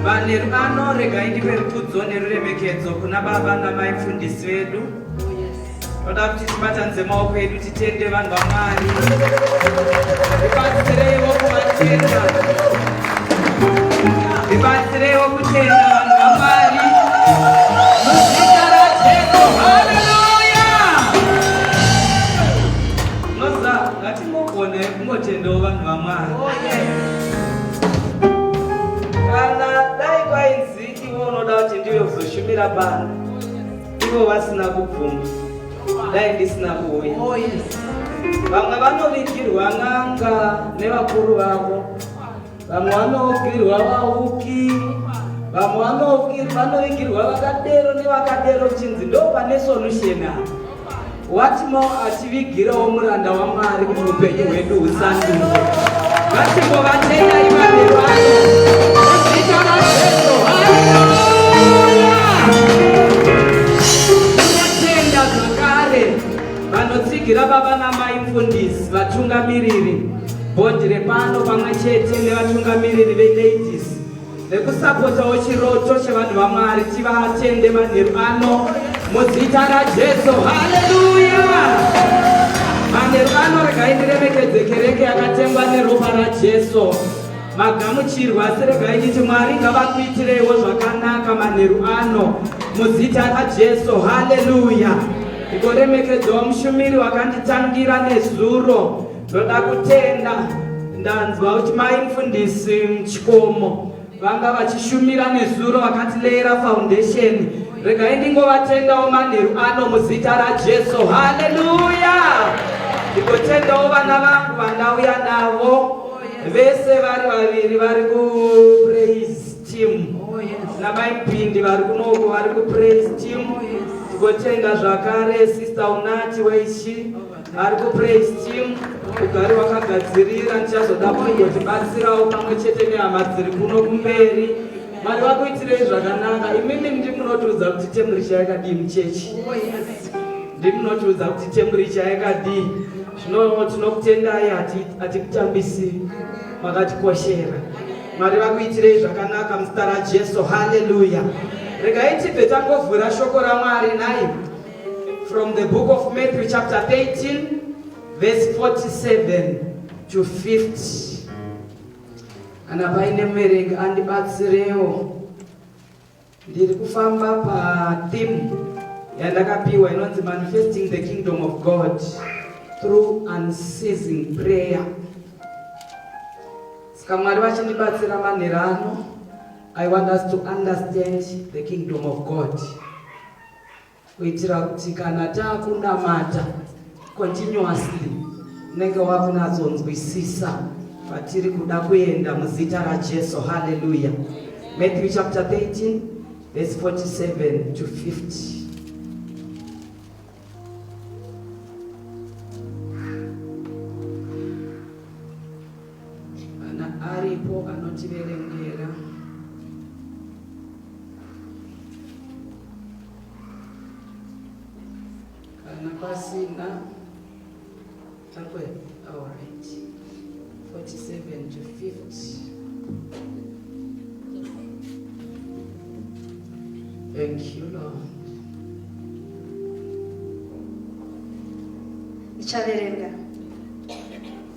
Vanerubano regai ndipe rukudzo neruremekedzo kuna baba namai mfundisi vedu toda kuti tibatanidze maoko edu titende vanhu vamwari ibatsireiwo kuvatenda ibatsireiwo kutenda vanhu vamwari muzita rajesu haleluya noza ngatingogoneko Mungotendawo vanhu vaMwari. Oh, Kana dai kwainzi iwe unoda kuti ndiwe kuzoshumira bana ivo vasina kubvuma dai ndisina kuuya oh, vamwe vanovigirwa n'anga nevakuru vavo vamwe vanoukirwa vauki vamwe vanoikirwa vakadero nevakadero chinzi ndo pane solution apa watimo achivigirawo muranda wamwari kuti upenyu hwedu husanduke vatimo vatendai vanhu vanotenda zvakare vanotsigira baba namai mfundisi vatungamiriri Bhodhi repano pamwe chete nevatungamiriri veladies vekusapotawo chiroto chevanhu vaMwari tivatende manheru ano muzita raJesu. Haleluya! Manheru ano regai ndiremekedze kereke yakatengwa neropa raJesu. Magamuchirwa asi regai nditi Mwari ngavakuitireiwo zvakanaka manheru ano muzita raJesu. Haleluya! Ndigoremekedzawo mushumiri wakanditangira nezuro Toda kutenda ndanzwa kuti mai mfundisi Chikomo vanga vachishumira nezuro vakatileera foundation. Regai ndingovatendawo manheru ano muzita raJesu. Haleluya! Ndikotendawo vana vangu vandauya navo vese vari vaviri vari kupraise team namai Pindi vari kunoko vari kupraise team. Ndikotenda zvakare sister Unati weishi Ari ku praise team ugari wakagadzirira ndichazoda kungotibatsirawo pamwe chete nehama dziri kuno kumberi mwari vakuitirei zvakanaka imimi ndimunotiudza kuti temburicha yakadii muchechi ndimunotiudza kuti temburicha yakadii zvino tinokutendai hatikutambisi makatikoshera mwari vakuitirei zvakanaka muzita rajesu haleluya regai tibve tangovhura shoko ramwari nai From the book of Matthew chapter 13 verse 47 to 50. Kana paine muverengi andibatsirewo. Ndiri kufamba pa theme yandakapiwa inonzi manifesting the kingdom of God through unceasing prayer. Saka Mwari vachindibatsira manherano I want us to understand the kingdom of God. kuitira kuti kana takunamata continuously unenge wakunatsonzwisisa patiri kuda kuenda muzita rajesu haleluya matthew chapter 13 verse 47 to 50 Kana aripo anotiverengera. Kana pasina takwe all right 47 to 50 Thank you, Lord. Ndichaverenga.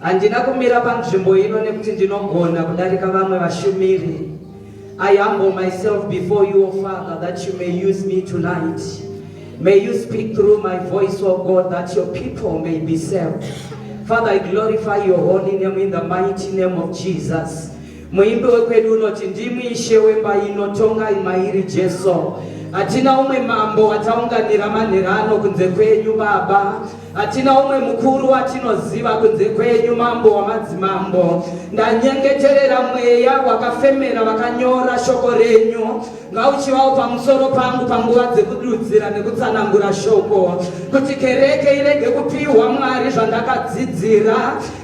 Handina kumira panzvimbo ino nekuti ndinogona kudarika vamwe vashumiri. I humble myself before you, O Father, that you may use me tonight. May you speak through my voice, O God, that your people may be saved. Father, I glorify your holy name in the mighty name of Jesus. Muimbi wekwedu unoti ndimwi ishe wemba ino tongai mairi Jesu. Hatina umwe mambo wataunganira manherano kunze kwenyu Baba. Hatina umwe mukuru watinoziva kunze kwenyu mambo wamadzimambo. Ndanyengeterera mweya wakafemera vakanyora shoko renyu Ngauchivawo pamusoro pangu panguva dzekududzira nekutsanangura shoko, kuti kereke irege kupiwa Mwari zvandakadzidzira,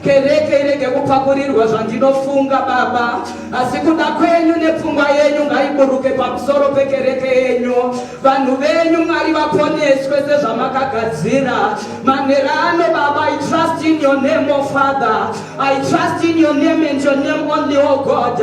kereke irege kupakurirwa zvandinofunga, Baba, asi kuda kwenyu nepfungwa yenyu ngaiburuke pamusoro pekereke yenyu. Vanhu venyu Mwari vaponeswe sezvamakagadzira manerano, Baba, I trust in your name, O Father. I trust in your name and your name only, oh God.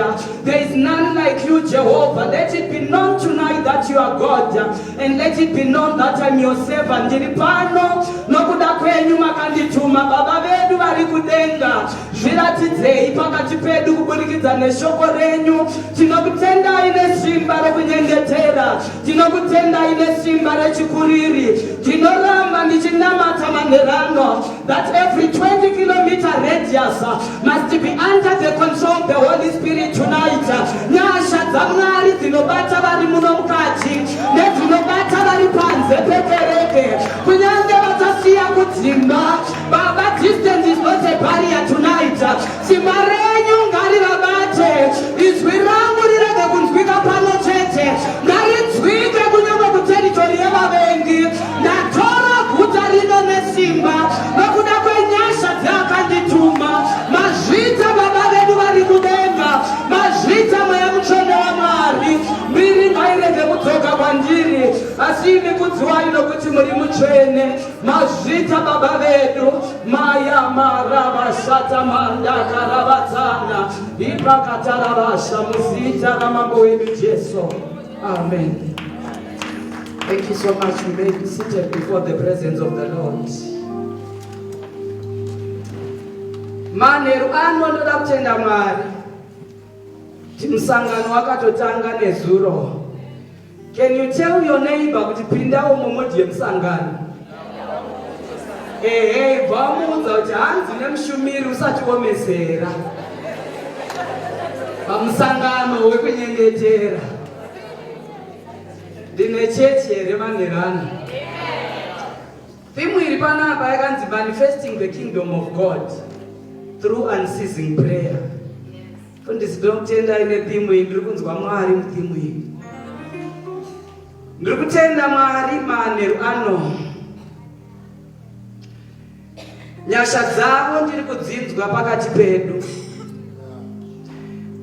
There is none like you, Jehovah. Let it be known tonight that you are God. And let it be known that I'm your servant. Ndiri pano nokuda kwenyu makandituma. Baba vedu vari kudenga. Zviratidzei pakati pedu kuburikidza neshoko renyu. Tinokutendai nesimba rokunyengetera. Tinokutendai nesimba rechikuriri. Tinoramba ndichinamata manherano. that every 20 kilometer radius uh, must be under the control of the Holy Spirit tonight. Uh, nyasha dzamwari dzinobata vari muno mukati nedzinobata vari panze pekereke kunyange vachasiya kudzimba baba distance is not a barrier tonight uh, Simba renyu ngarivabate, izwi rangu rirege kunzwika pano chete, ngarinzwike kunyangwe kuteritori yevavengi. Ndatora guta rino nesimba, nokuda kwenyasha dzeakandituma. Mazvita Baba vedu vari kudenga, mazvita Mweya Mutsvene waMwari. Mbiri ngairege kudzoka kwandiri, asi imi kudziwai nokuti muri mutsvene. mazvita baba vedu mayamarabashata mandakarabatsana ipakatarabasha muzita ramambo wedu jesu amen Thank you so much. You may be seated before the presence of the Lord. manheru ano ndoda kutenda mwari kuti musangano wakatotanga nezuro Can you tell your neighbor kuti pindawo momodie musangano? Ehe, ibva wamuudza kuti hanzi nemushumiri usati womesera pamusangano wekunyengetera. Ndine chechi here manherana? Thimu iri panapa yakanzi manifesting the kingdom of God through unceasing prayer. Mfundisi ndinokutendai netheme iyi ndiri kunzwa Mwari mutheme iyi. Ndiri kutenda Mwari manheru ano. Nyasha dzavo ndiri kudzinzwa pakati pedu.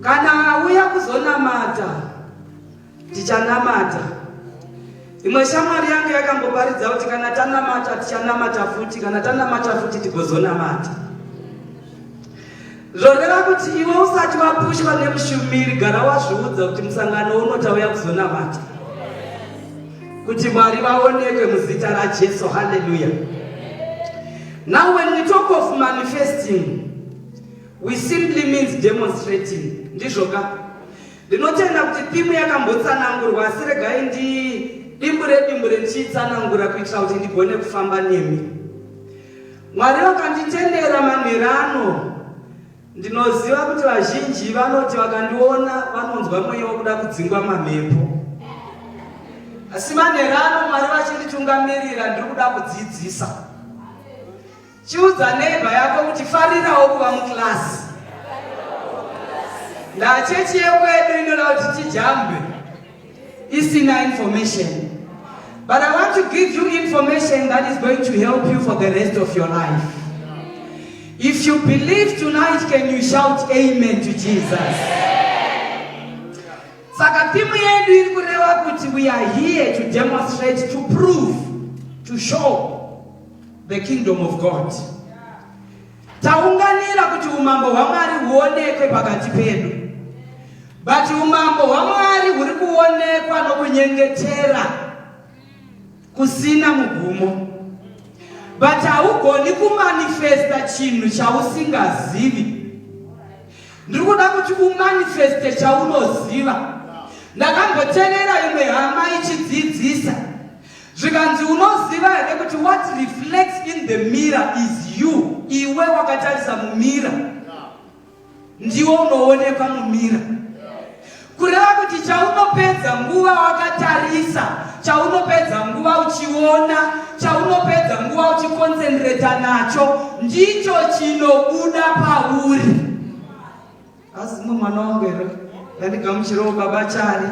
Kana auya kuzonamata Tichanamata. Imwe shamwari yange yakamboparidza kuti kana tanamata tichanamata futi, kana tanamata futi tigozonamata. Zvoreva kuti iwe usati wapushwa nemushumiri gara wazviudza kuti musangano uno tauya kuzonamata. Kuti Mwari vaonekwe muzita raJesu. Hallelujah. Now when we talk of manifesting, we simply means demonstrating. Ndizvoka. Ndinotenda kuti thimu yakambotsanangurwa asi regai ndidimbure dimbure ndichiitsanangura kuitira kuti ndigone kufamba nemi. Mwari vakanditendera manhera ano ndinoziva kuti vazhinji vanoti vakandiona vanonzwa mweya wekuda kudzingwa mamhepo. Asi manhera ano Mwari vachinditungamirira ndiri kuda kudzidzisa. Chiudza neighbor yako kuti farirawo kuva mukilasi. Ndaa chechi yekwedu inoda kuti tijambe isina information. But I want to give you information that is going to help you for the rest of your life. If you believe tonight, can you shout amen to Jesus? Saka timu yedu iri kureva kuti we are here to demonstrate, to prove, to show The kingdom of God. Taunganira kuti umambo hwaMwari huonekwe pakati pedu. But umambo hwaMwari huri kuonekwa nokunyengetera kusina mugumo. But haugoni kumanifesta chinhu chausingazivi. Ndiri kuda kuti umanifeste chaunoziva. Ndakamboterera imwe hama ichidzidzisa. Zvikanzi unoziva here kuti what reflects in the mirror is you, iwe wakatarisa mumira ndiwo unoonekwa mumira. Kureva kuti chaunopedza nguva wakatarisa, chaunopedza nguva uchiona, chaunopedza nguva uchikonsentreta nacho ndicho chinobuda pauri. Azimwe mwana wangu here ndandigamuchirawo baba Chari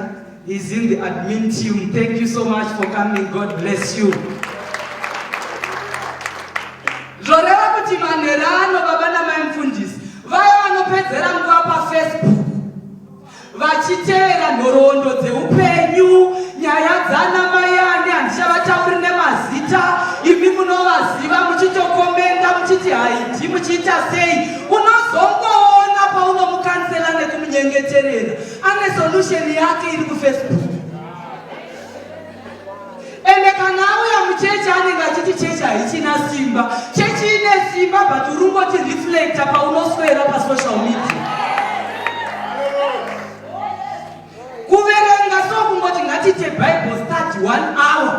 is in the admin team. Thank you so much for coming. God bless you. Zvoreva kuti manhera ano baba namai mfundisi vaya vanopedzera nguva pafacebook vachiteera nhoroondo dzeupenyu nyaya dzana mai ani handichavatauri nemazita imi munovaziva muchitokomenda muchiti haidi muchiita sei unozongoona paunomukansela nekumunyengeterera ane solution yake iri kufacebook ende kana auya muchechi anenge achiti chechi haichina simba chechi ine simba but urungoti reflecta paunoswera pasocial media kuverenga so kungoti ngatiite bible study one hour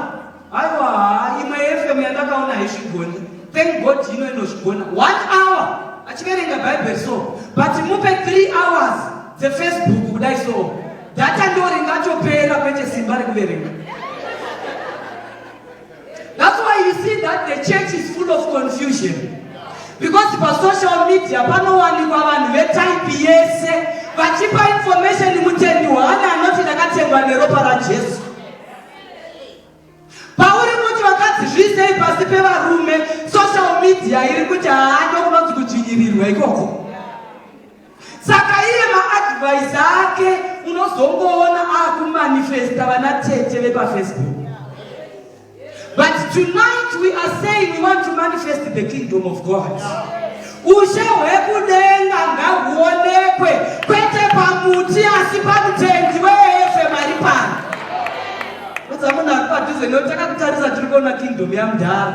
Aiwa haa imwe FM yandakaona haizvigoni. Thank God ino inozvigona. One hour achiverenga Bible so but mupe three hours dzefacebook kudai so data ndo ringatopera kwete simba rekuverenga. That's why you see that the church is full of confusion because pasocial media panowanikwa vanhu vetype yese vachipa information mutendi waani anoti ndakatengwa neropa rajesu pauri kuti vakadzi zviisei pasi pevarume social media iri kuti haana kunonzi kudzvinyirirwa ikoko saka iye maadvise ake unozongoona akumanifesta vana tete vepafacebook but tonight we are saying we want to manifest the kingdom of god yeah. Ushe hwekudenga ngahuonekwe kwete pamuti asi pamutenzi weefe mari pano. Kudza munhu ari padhuze nekuti takakutarisa tiri kuona kingdom yamudhara.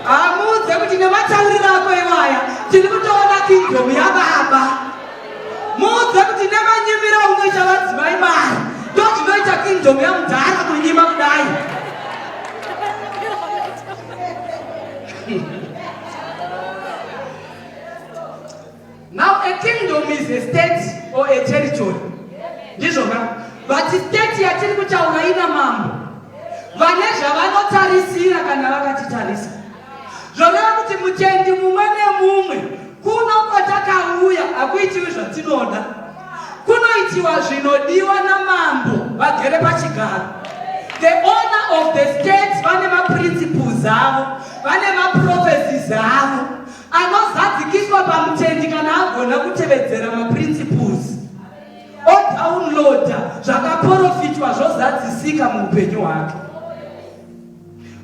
Hamuudze kuti nematauriro ako iwaya tiri kutoona kingdom yababa. Muudze kuti nemanyimiro aunoita vadzimai mari ndozvinoita kingdom yamudhara kunyima kudai. Now a kingdom is a state or a territory. Ndizvo ka? But state yatiri kutaura ina mambo. Vane zvavanotarisira kana vakatitarisa. Zvoreva kuti mutendi mumwe nemumwe Kuno kwatakauya hakuitiwi zvatinoda, kunoitiwa zvinodiwa namambo vagere pachigaro. The owner of the state vane maprinciples avo, vane maprophecies avo. Anozadzikiswa pamutendi kana agona kutevedzera maprinciples odownloada zvakaporofitwa zvozadzisika muupenyu hwake.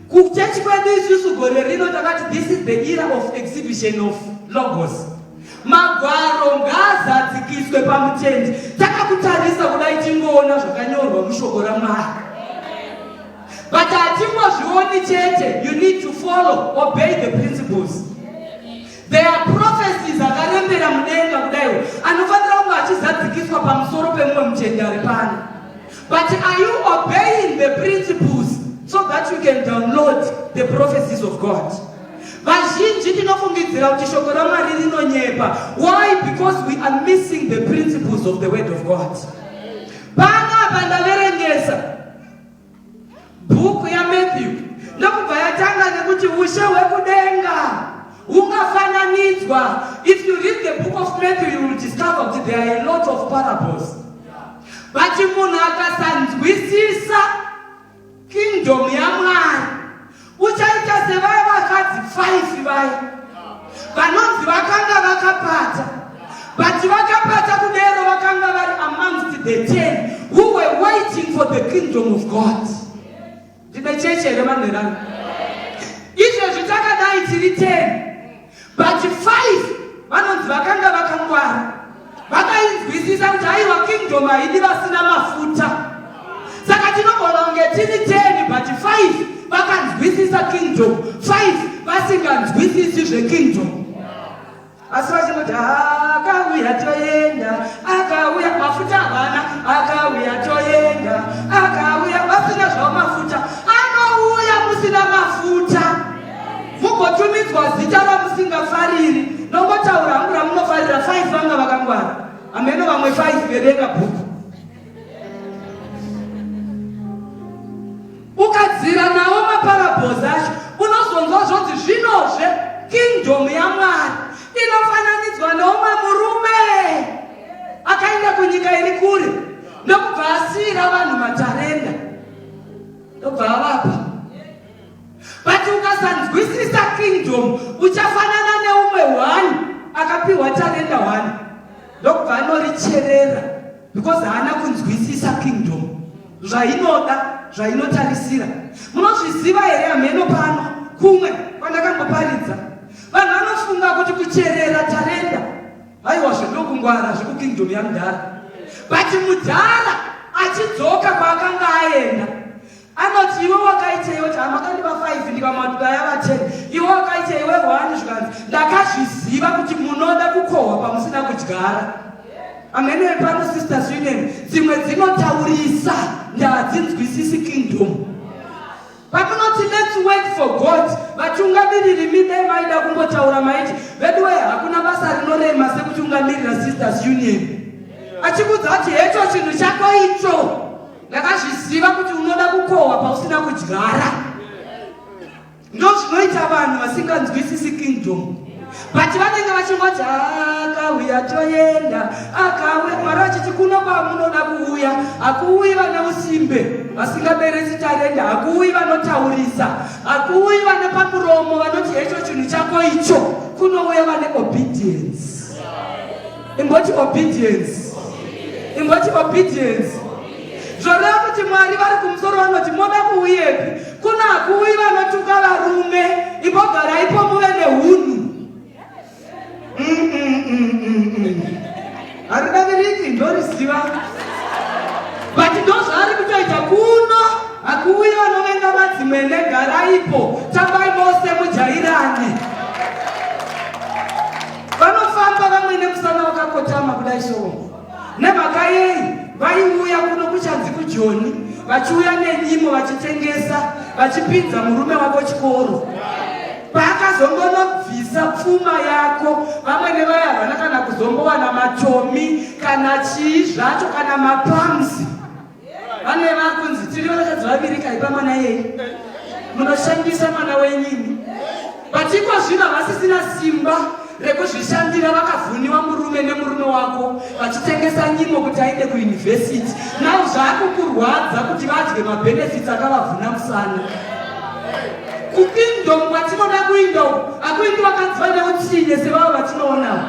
Kuchechi kwedu isusu gore rino takati this is the era of exhibition of logos. Magwaro ngaazadzikiswe pamutendi. Takakutarisa kudai tingoona zvakanyorwa mushoko raMwari. But hatingozvioni chete, you need to follow, obey the principles. There are prophecies akarembera mudenga kudai anofanira kunge achizadzikiswa pamusoro pemumwe muchendi ari pano. But are you obeying the principles so that you can download the prophecies of God? Vazhinji tinofungidzira kuti shoko raMwari rinonyepa. Why? Because we are missing the principles of the word of God. Pano apa ndaverengesa Bhuku yaMathew ndokubva yatanga nekuti ushe hwekudenga hungafananidzwa. If you read the book of Matthew you will discover kuti there are a lot of parables. But munhu akasanzwisisa kingdom yaMwari uchaita sevaya vakadzi 5 vaya vanonzi vakanga vakapata but vakapata kudero vakanga vari amongst the ten who were waiting for the kingdom of god ndine cheche here vanherana izvezvi takadai tiri ten But five vanonzi vakanga vakangwara vakainzwisisa kuti aiwa kingdom haidi vasina mafuta saka tinogona kunge tiri ten but five vakanzwisisa kingdom five vasinganzwisisi zvekingdom asi vachinoti akauya toenda akauya mafuta havana akauya toenda akauya vasina zvavo mafuta anouya musina mafuta mugotumidzwa zita ramusingafariri nongotaura hangu ramunofarira five vanga vakangwara ameno vamwe five verenga bhuku ukadzira nawo maparabhozi acho unozonzwa zvonzi zvinozve kingdom yamwari inofananidzwa nomwe murume akaenda kunyika iri kure ndokubva asiira vanhu matarenda ndobva avapa but ukasanzwisisa kingdom uchafanana neumwe one akapiwa tarenda one ndokubva anoricherera because haana kunzwisisa kingdom zvainoda zvainotarisira munozviziva here hameno pano kumwe kwandakamboparidza vanhu vanofunga kuti kucherera tarenda haiwa zvedokungwara zvekukingdom yamudhara but mudhara achidzoka kwaakanga aenda anoti iwe wakaitei oti hama kandiva 5 ndikamaduka yava 10 iwe wakaitei iwe hwani zvikanzi ndakazviziva kuti munoda kukohwa pamusina kudyara amenewe pano sister sweden dzimwe dzinotaurisa ndadzinzwisisi kingdom pakunoti lets wait for god vatungamiriri midai maida kumbotaura maiti veduwe hakuna basa rinorema sekutungamirira sisters union achikudza kuti hecho chinhu chako icho ndakazviziva kuti unoda kukohwa pausina kudyara ndozvinoita vanhu vasinganzwisisi kingdom but vanenge vachingoti akauya toenda akauya mwari vachiti kuno kwamunoda kuuya hakuuyi vane usimbe vasingaberesi tarenda hakuuyi vanotaurisa hakuuyi vane pamuromo vanoti hecho chinhu chako icho kunouya vane obedience imboti obedience imboti obedience zvoreva kuti mwari vari kumusoro vanoti moda kuuyepi kuna kuuyi vanotuka varume imbogaraipo muve neunhu haridaviriki ndoriziva but ndozvaari kutoita kuno hakuuyi vanovenga madzimene garaipo tambai mose mujairane Vanofamba vamwe nemusana wakakotama kudai soo. Nemhaka yei vaiuya kuno kuchanzi kujoni vachiuya nenyimo vachitengesa vachipinza murume wako chikoro paakazongonobvisa pfuma yako vamwe nevaya havana kana kuzombowana matomi kana chii zvacho kana mapamsi Vamwe vakunzi tiri vakadzi vaviri kaipa mwana yei. Munoshandisa mwana wenyini. But iko zvino havasisina simba rekuzvishandira vakavhuniwa murume nemurume wako vachitengesa nyimo kuti aende kuyunivhesiti nau zvaakukurwadza kuti vadye mabhenefits akavavhuna musana kupindom kwatinoda kuinda uku akuindi wakanzwa neutsinye sevavo vatinoonavo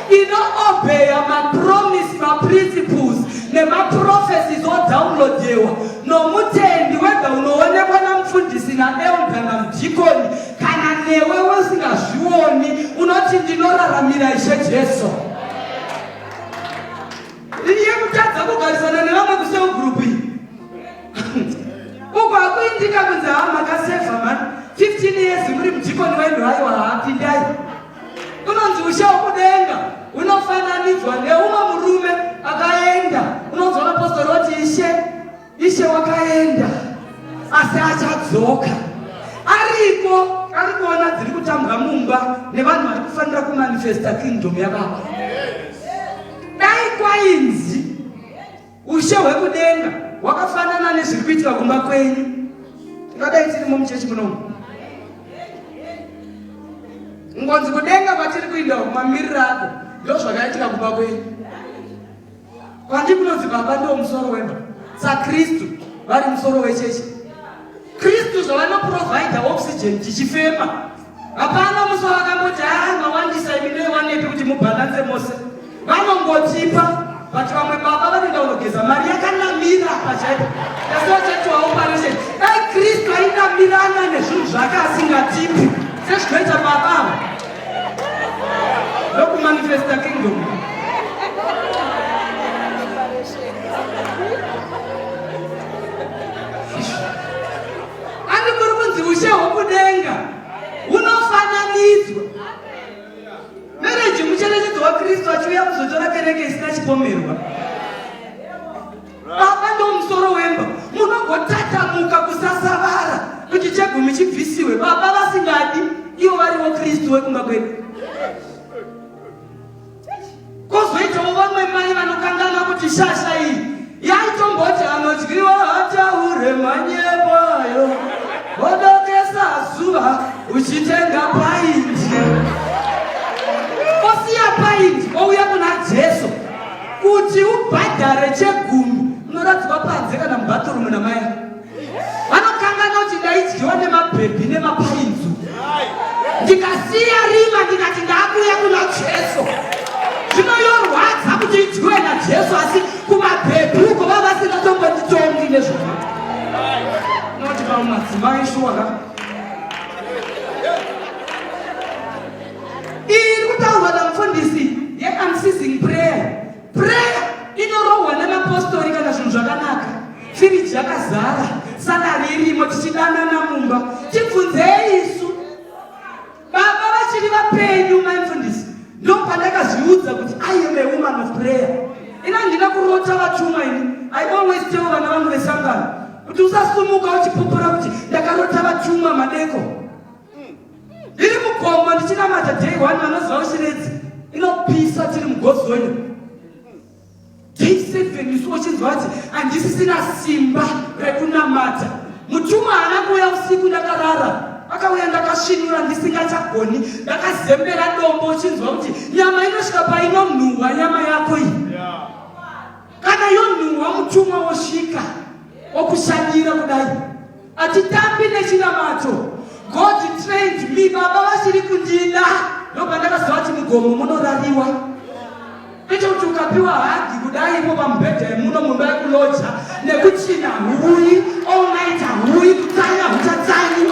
Inoobeya mapromise, maprinciples nemaprophecies odownloadewa nomutendi wega unoonekwa namufundisi naelda namudhikoni kana newe usingazvioni unoti ndinoraramira ishe jesu iye kutadza kugarisana nevamwe kuseugrupu iyi uko hakuindika kunzi haa makaseva mani 15 years muri mudhikoni wenhu aiwa haapindai Unonzi ushe hwokudenga hunofananidzwa neumwe murume akaenda. Unonzwa vapostori voti ishe, ishe wakaenda asi achadzoka. Ariko ari kuona dziri kutambwa mumba nevanhu vari kufanira kumanifesta kingdom yababa. Dai kwainzi Ushe hwekudenga hwakafanana nezviri kuitika kumba kwenyu. Tingadai tirimo muchechi munomu ngonzi kudenga kwatiri kuinda mamiriro ako ndo zvakaitika kumba kwenyu kwandi kunonzi baba ndo musoro wemba sakristu vari musoro wechechi kristu zvavanoprovidha oxygen tichifema Hapana musi wavakamboti haa mawandisa imi dai wanepi kuti mubhalanse mose. Vanongotipa but vamwe baba vanoenda kunogeza mari yakanamira pachaipo. Asi vachati waoperation. Dai Kristu ainamirana nezvinhu zvake asingatipi sezvinoita baba ava. Ndokumanifesta kingdom. Ani kuri kunzi ushe hwokudenga hunofananidzwa. Mereji mucherechedzo waKristu achiuya kuzotora kereke isina chipomerwa. Baba ndomusoro wemba, munogotatamuka kusasavara kuti chegumi chibvisiwe. Baba vasingadi ivo varivo Kristu wekumba kwedu. Kozoitawo vamwe mai vanokanganwa kuti shasha iyi yaitomboti anodyiwa hataure manyepo ayo wodokesa zuva uchitenga paindi osiya paindi ouya kuna jesu kuti ubhadhare chegumi unoradzwa panze kana mubathurumu namai vanokanganwa kuti ndaidyiwa nemabhebhi nemapainzu ndikasiya rima ndikati ndakuya kuna jesu zvino yorwadza kuti idyiwe najesu asi kumabhebhi uko vava vasingatombotitongi nezvaka noti vamumadzimai shuwaka Prayer inorohwa nemapostori kana zvinhu zvakanaka. Firiji yakazara, salari irimo, tichidanana mumba. Tibvunzei isu. Baba vachiri vapenyu mai mfundisi. Ndopandakazviudza kuti I am a woman of prayer. Ina handina kurota vatumwa ini. I always tell vana vangu vesangano kuti usasumuka uchipupura kuti ndakarota vatumwa madeko. ndiri mukombo ndichinamata day one vanoziva ushiredzi inopisa tiri mugozoni day seven isu uchinzwa kuti handisisina simba rekunamata mutumwa haana kuuya usiku ndakarara akauya ndakasvinura ndisingachagoni ndakazembera dombo uchinzwa kuti nyama inosvika painonhuhwa nyama yako iyi yeah. Kana yonhuhwa mutumwa wosvika wokushanyira kudai atitambi nechinamato God trained me baba vasiri kundida ndopa ndakaziva kuti mugomo munorariwa kwete kuti ukapiwa hagi kudai ipo pamubhedha yemuno mumba yekuloja nekuchina huyi all night huyi kutsanya huchatsanyi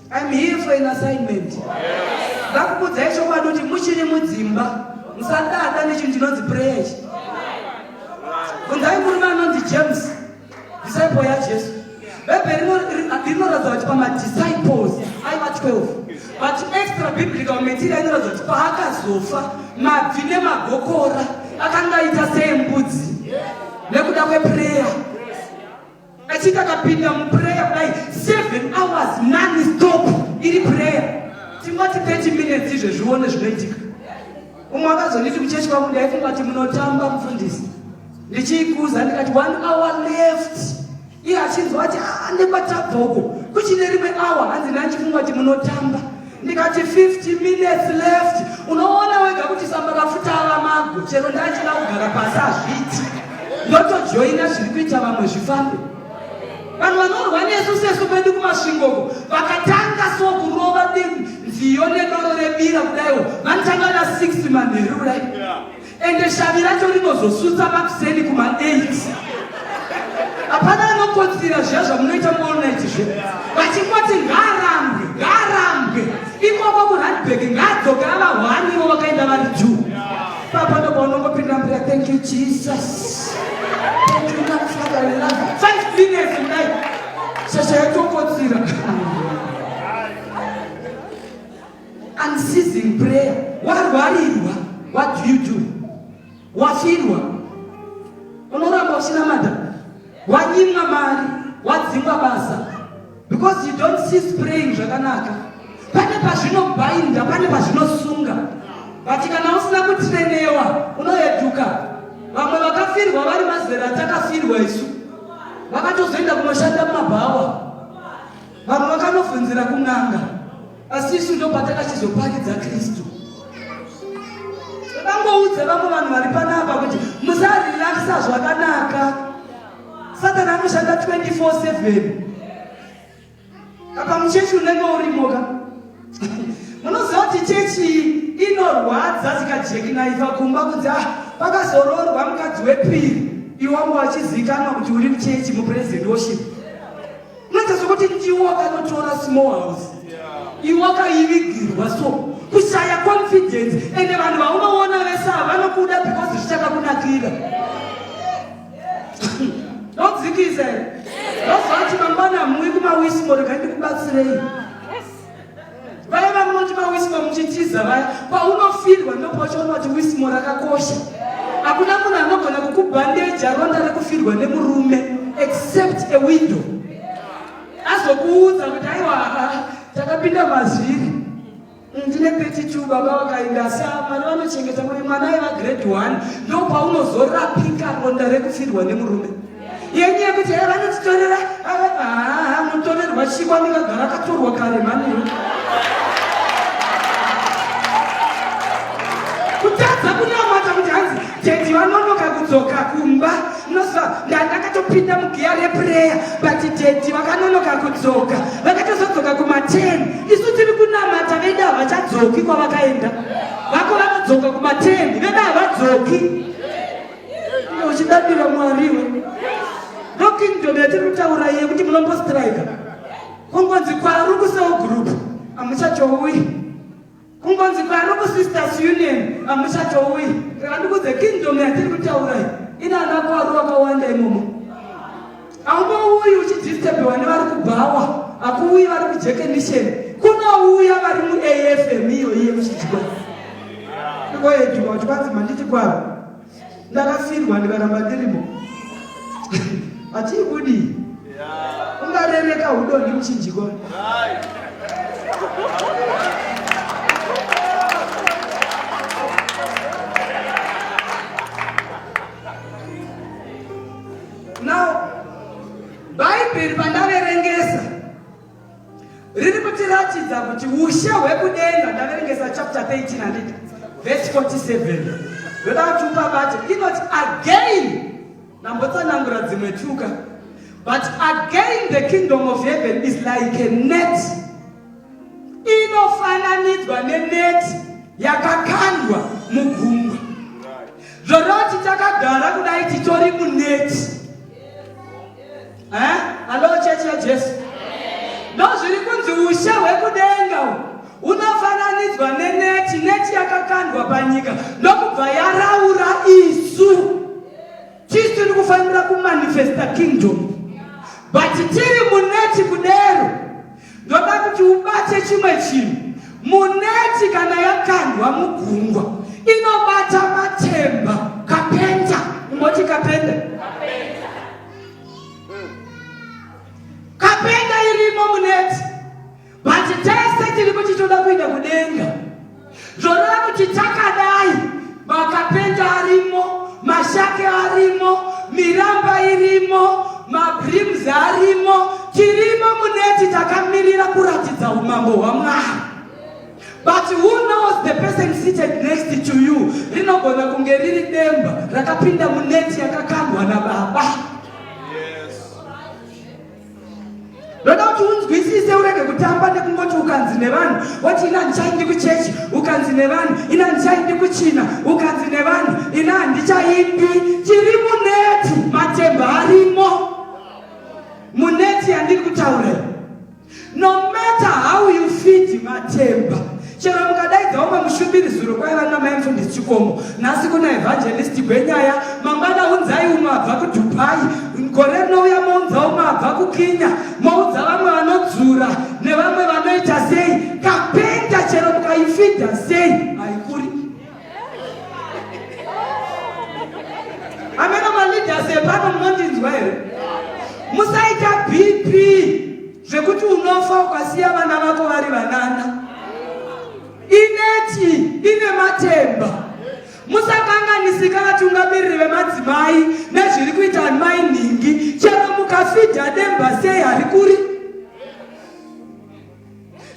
I'm here for an assignment. Ndakukudzai chokwadi kuti muchiri mudzimba musadada nechinhu chinonzi prayer ichi. Bvunzai murume anonzi James, disciple yaJesu. Bhaibheri rinoratidza kuti pamadisciples aiva 12 but extra biblical material inoratidza kuti paakazofa mabvi nemagokora akanga aita seembudzi nekuda kweprayer Achiti akapinda muprayer kudai 7 hours non stop iri prayer. Tingoti 30 minutes izvo zvione zvinoitika. Umwe akazonditi kuchechi kwangu ndaifunga kuti munotamba mufundisi. Ndichiikuza ndikati one hour left. Iye achinzwa kuti ah, nekwatabva uko kuchine rimwe hour hanzi nandichifunga kuti munotamba. ndikati 50 minutes left unoona wega kuti samba rafuta ava mago chero ndachida kugara pasi azviti ndotojoina zviri kuita vamwe zvifambe vanhu vanorwa nesu sesu pedu kumasvingoko vakatanga so kurova nziyo nedoro rebira kudaiwo vanotanga na 6 manheru kudai Ende shavi racho rinozosutsa makuseni kuma 8 hapana anokotsira zviya zvamunoita muolnit zve vachingoti ngaarambwe ngaarambwe ikoko kuradbek ngaadzoke avahwanivo vakaenda vari ju papa ndoba unongopinda mbira thank you jesus thank you my father in love five minutes kudai shasha yatokotsira Unceasing prayer. Warwarirwa, what do you do? Wafirwa, unoramba uchinamata. Wanyimwa mari, wadzingwa basa because you don't cease praying zvakanaka. Pane pazvinobhainda, pane pazvinosunga. But kana usina kutrenewa, unoeduka. Vamwe vakafirwa vari mazera atakafirwa isu, vakatozoenda kunoshanda mumabhawa, vamwe vakanobvunzira kun'anga. asi isu ndopatakachizopakidza kristu vakangoudza vamwe vanhu vari panapa kuti musarelaxa zvakanaka satani anoshanda 24/7 apa muchechi unenge urimoka munoziva kuti chechi inorwadza zikajekinaiva kumba kuti ah pakazororwa mukadzi wepiri iwangu wachizikanwa kuti uri muchechi mupresident worship Unoita sokuti ndiwo akanotora small house. Iwo akaivigirwa so kushaya confidence ende vanhu vaunoona vese havanokuda because zvichakakunakira. Ndodzikisa here? Ndozvati mangwana mui kumawisimo regai ndikubatsirei. vaya vamunoti mawismo muchitiza vaya paunofirwa ndopachaona kuti wismo rakakosha hakuna munhu anogona kukubhandeja ronda rekufirwa nemurume except a window azokuudza kuti aiwa takapinda mazviri ndine peti two baba vakaenda asi mwana vanochengeta mwana aiva grade one ndopaunozorapikarwa nda rekufirwa nemurume yenyu yekuti e vanotitorera haa mutorerwa chiko anengagara akatorwa kare mani kutadza kunamata kuti hanzi tedi vanonoka kudzoka kumba mnoziva ndandakatopinda mugiya repureya but tedi vakanonoka kudzoka vakatozodzoka kumaten isu tiri kunamata veda havachadzoki kwavakaenda vako vanodzoka kumaten veda havadzoki uchidadira mwari iwe ndokingdom yatiri kutaura iye kuti munombostrika kungonzi kwaru kuseo group amuchachouyi kungonzi kwaru kusisters union amuchachouyi andikudze kingdom yatiri kutaura ina ana kwaru wakawanda imomo Haungouyi uchidisturbiwa nevari kubhawa, hakuuyi vari kujekenisheni, kunouya vari muAFM iyoiye muchidyiwa. Ndikoyedyiwa kuti kwanzi manditi kwaro ndakafirwa ndikaramba ndirimo hatii kudii ungarereka udoni muchinjikwa Now, Bhaibheri pandaverengesa riri kutiratidza kuti ushe hwekudenga ndaverengesa chapter 13 handiti vhesi 47 ndoda kuti upabate inoti again ndambotsanangura dzimwe tuka but again the kingdom of heaven is like a net inofananidzwa neneti yakakandwa mugungwa zvoreva kuti takagara kudai titori muneti eh? alo chechi yajesu ndo zviri kunzi ushe hwekudenga unofananidzwa neneti neti yakakandwa panyika ndokubva yaraura isu Tisu tiri kufanira kumanifesta kingdom but tiri muneti kudero ndoda kuti ubate chimwe chinhu muneti kana yakandwa mugungwa inobata matemba kapenda ungoti kapenda kapenda irimo muneti But tese tiri kuchitoda kuenda kudenga. Zvoreva kuti takadai makapenda arimo, mashake arimo, miramba irimo, mabreams arimo, tirimo muneti takamirira kuratidza umambo hwaMwari. But who knows the person seated next to you rinogona kunge riri demba rakapinda muneti yakakandwa nababa. ndoda kuti unzwisise urege kutamba nekungoti ukanzi nevanhu woti ina handichaindi kuchechi ukanzi nevanhu ina handichaindi kuchina ukanzi nevanhu ina handichaindi chiri muneti matemba arimo muneti yandiri kutaura no matter how you feed matemba Chero mukadaidza umwe mushumiri zuro kwaiva namai mfundisi Chikomo, nhasi kuna evangelist Gwenyaya, mangwana unzai umwe abva kuDubai, gore rinouya mounza umwe abva kuKenya, moudza vamwe vanodzura nevamwe vanoita sei. Kapenta chero mukaifidha sei haikuri. Ameno maleaders epano munondinzwa here? Musaita BP. zvekuti unofa ukasiya vana vako vari vanana ineti ine matemba musakanganisika vatungamiriri vemadzimai nezviri kuita mai nhingi chero mukafidha demba sei harikuri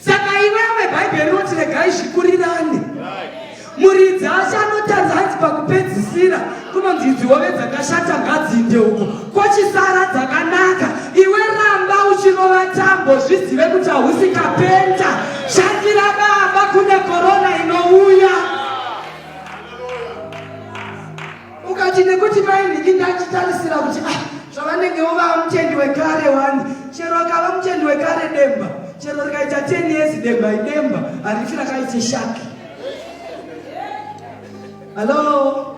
saka iwewe bhaibheri rinoti regai zvikurirane muridzi asi anotadza hanzi pakupedzisira kunonzi idzi hove dzakashata ngadzinde uko kochisara dzakanaka iwe ramba uchirova tambo zvizive kuti hausi kapenta shandira baba kune korona inouya ukati nekuti mai nhiki ndachitarisira kuti ah, zvavanenge vovava mutendi wekare wani chero akava mutendi wekare demba chero rikaita ten years demba idemba harifi rakaite shaki hallo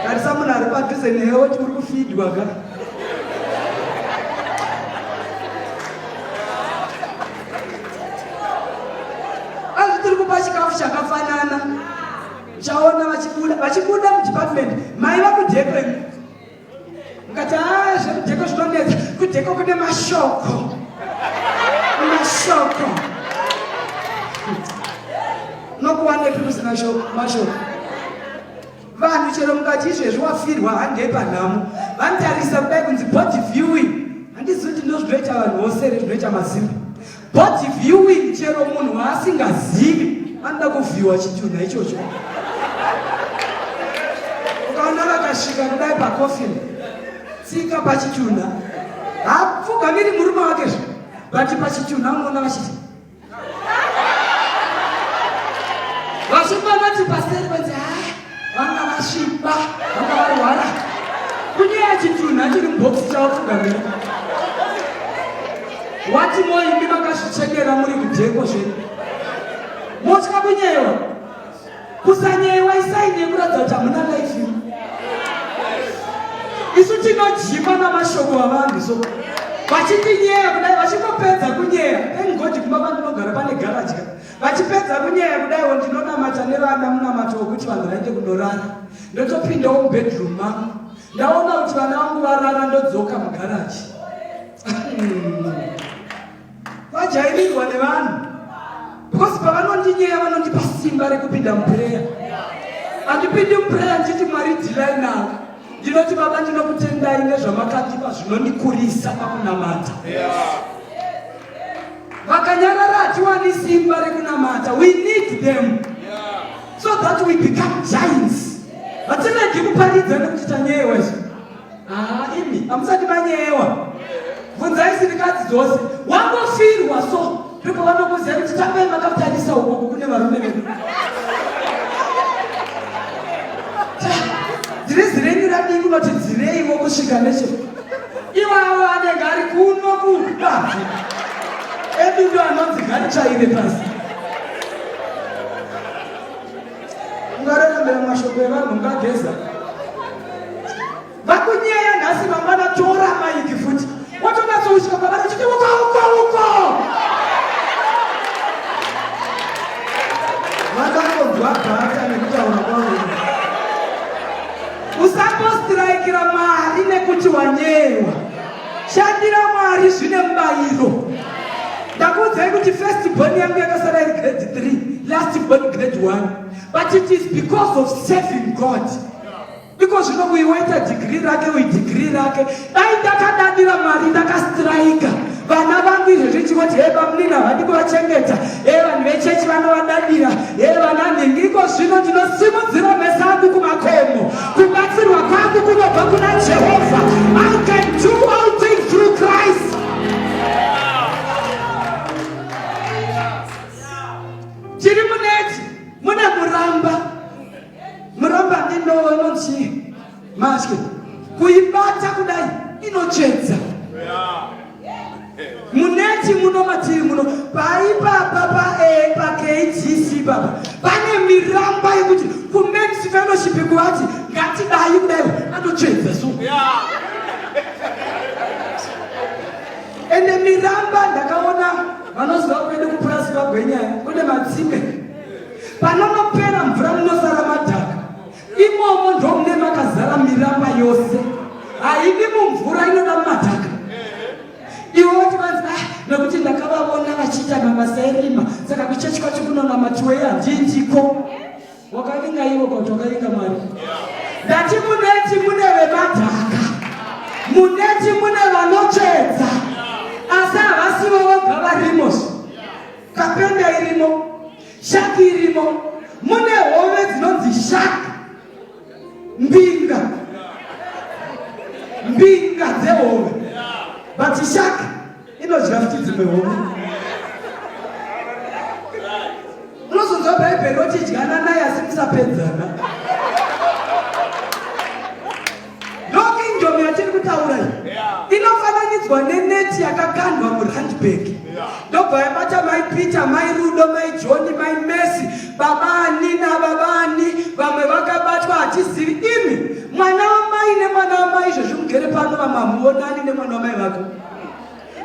tarisa munhu ari padhuze newe woti uri kufidwa ka azvitiri kupa chikafu chakafanana Chaona vachibuda vachibuda mudepartment mai vakudheko imi mukati haa zvekudheko zvinonetsa kudheko kune mashoko mashoko nokuwanepi kusina mashoko vanhu chero mukati izvezvi wafirwa handei panhamo vanotarisa kudai kunzi body viewing handizoti ndozvinoita vanhu vose re zvinoita mazimba But viewing chero munhu waasingazivi anoda kuvhiwa chitunha ichocho. Ukaona vakasvika kudai pacoffin, tsika pachitunha, hapfugamiri murume wake zve, but pachitunha unoona vachiti vachimbanati paseri panzi vanga vasviba vanga varwara kunyaya chitunha chiri mubox chavo kugamira wati moimi makazvichekera muri kudheko zvenyu motya kunyewa kusanyewa isaini yekuratidza kuti hamuna life isu tinojima namashoko avanhu so vachitinyeya kudai vachingopedza kunyeya thank god kumba vandinogara pane garaja Vachipedza kunyaya kudaiwo ndinonamata nevana munamato wekuti vanhu vaende kunorara. Ndotopindawo mubedroom mangu. Ndaona kuti vana vangu varara ndodzoka mugaraji. Vajairirwa nevanhu. Because pavanondinyeya vanondipa simba rekupinda muprayer. Andipindi muprayer ndichiti Mwari dhilai navo. ndinoti baba ndinokutendai nezvamakandipa zvinondikurisa pakunamata vakanyarara hatiwani simba rekunamata we need them so that we become giants hatinedi kuparidza nekuti tanyeyewa izvi haa ah, imi hamusati manyeyewa bvunzai sirikadzi dzose wangofirwa so ndipo vanokuziva kuti tambai makatarisa uku kune varume vedu dhirizi renyu radii kunoti dzireiwo kusvika neche iwawo anenge ari kuno kubazi edudo anonzi gari chaire pasi ungarerambira mashoko evanhu ungageza Vakunyeya nhasi mangwana tora maiki futi. Watonatsousvika kwavari uchiti uko uko uko. Vakangonzwa bhata nekutaura kwavo. Usambostiraikira Mwari nekuti wanyeyewa. Shandira Mwari zvine mubayiro. Ndakuudzai kuti first born yangu yakasara iri grade 3, last born grade 1. But it is because of serving God. Iko zvino kuiweta degree rake uyi degree rake. Dai ndakadadira mari ndakastrika. Vana vangu izvo zvichingoti hey bamunini havadi kuvachengeta. Hey vanhu vechechi vanovadadira. Hey vana nhingi iko zvino ndinosimudzira mesa angu kumakomo. Kubatsirwa kwangu kunobva kuna Jehovha. I can do all things through Christ. Chiri muneti mune muramba. muromba ndindowo inonzi maske kuibata kudai inochedza muneti muno matiri muno paipapa pakdc eh, papa pane miramba yekuti kumens fellowship kuvati ngatidai kudai anochedza so ende miramba ndakaona vanoziva kwedu kupurasi vagwenyaya kune matsimbe Panonopera mvura munosara madhaka. Imomo ndomune makazara miramba yose. Haidi mumvura inoda madhaka. Iwe woti vanzi ah nekuti ndakavavona vachiita mabasa erima saka kuchechi kwacho kunonamatiwei handindiko. Wakavinga ivo kuti wakavinga Mwari. Ndati muneti mune vemadhaka. Muneti mune vanotsvedza. Asi havasivo voga varimo. Kapenda irimo. Shaki irimo mune hove dzinonzi shaki mbinga mbinga dzehove but shaki inodya futi dzimwe hove unozonzwa bhaibheri rotidyana naye asi musapedzana Ndokingdom yatiri kutaura iyi inofananidzwa neneti yakakandwa muhandbag ndobva yabata mai peter mai rudo mai johni mai mesi baba ani nababa ani vamwe vakabatwa hatizivi imi mwana wamai nemwana wamai izvozvi mugere pano vamwe hamuonani nemwana wamai vako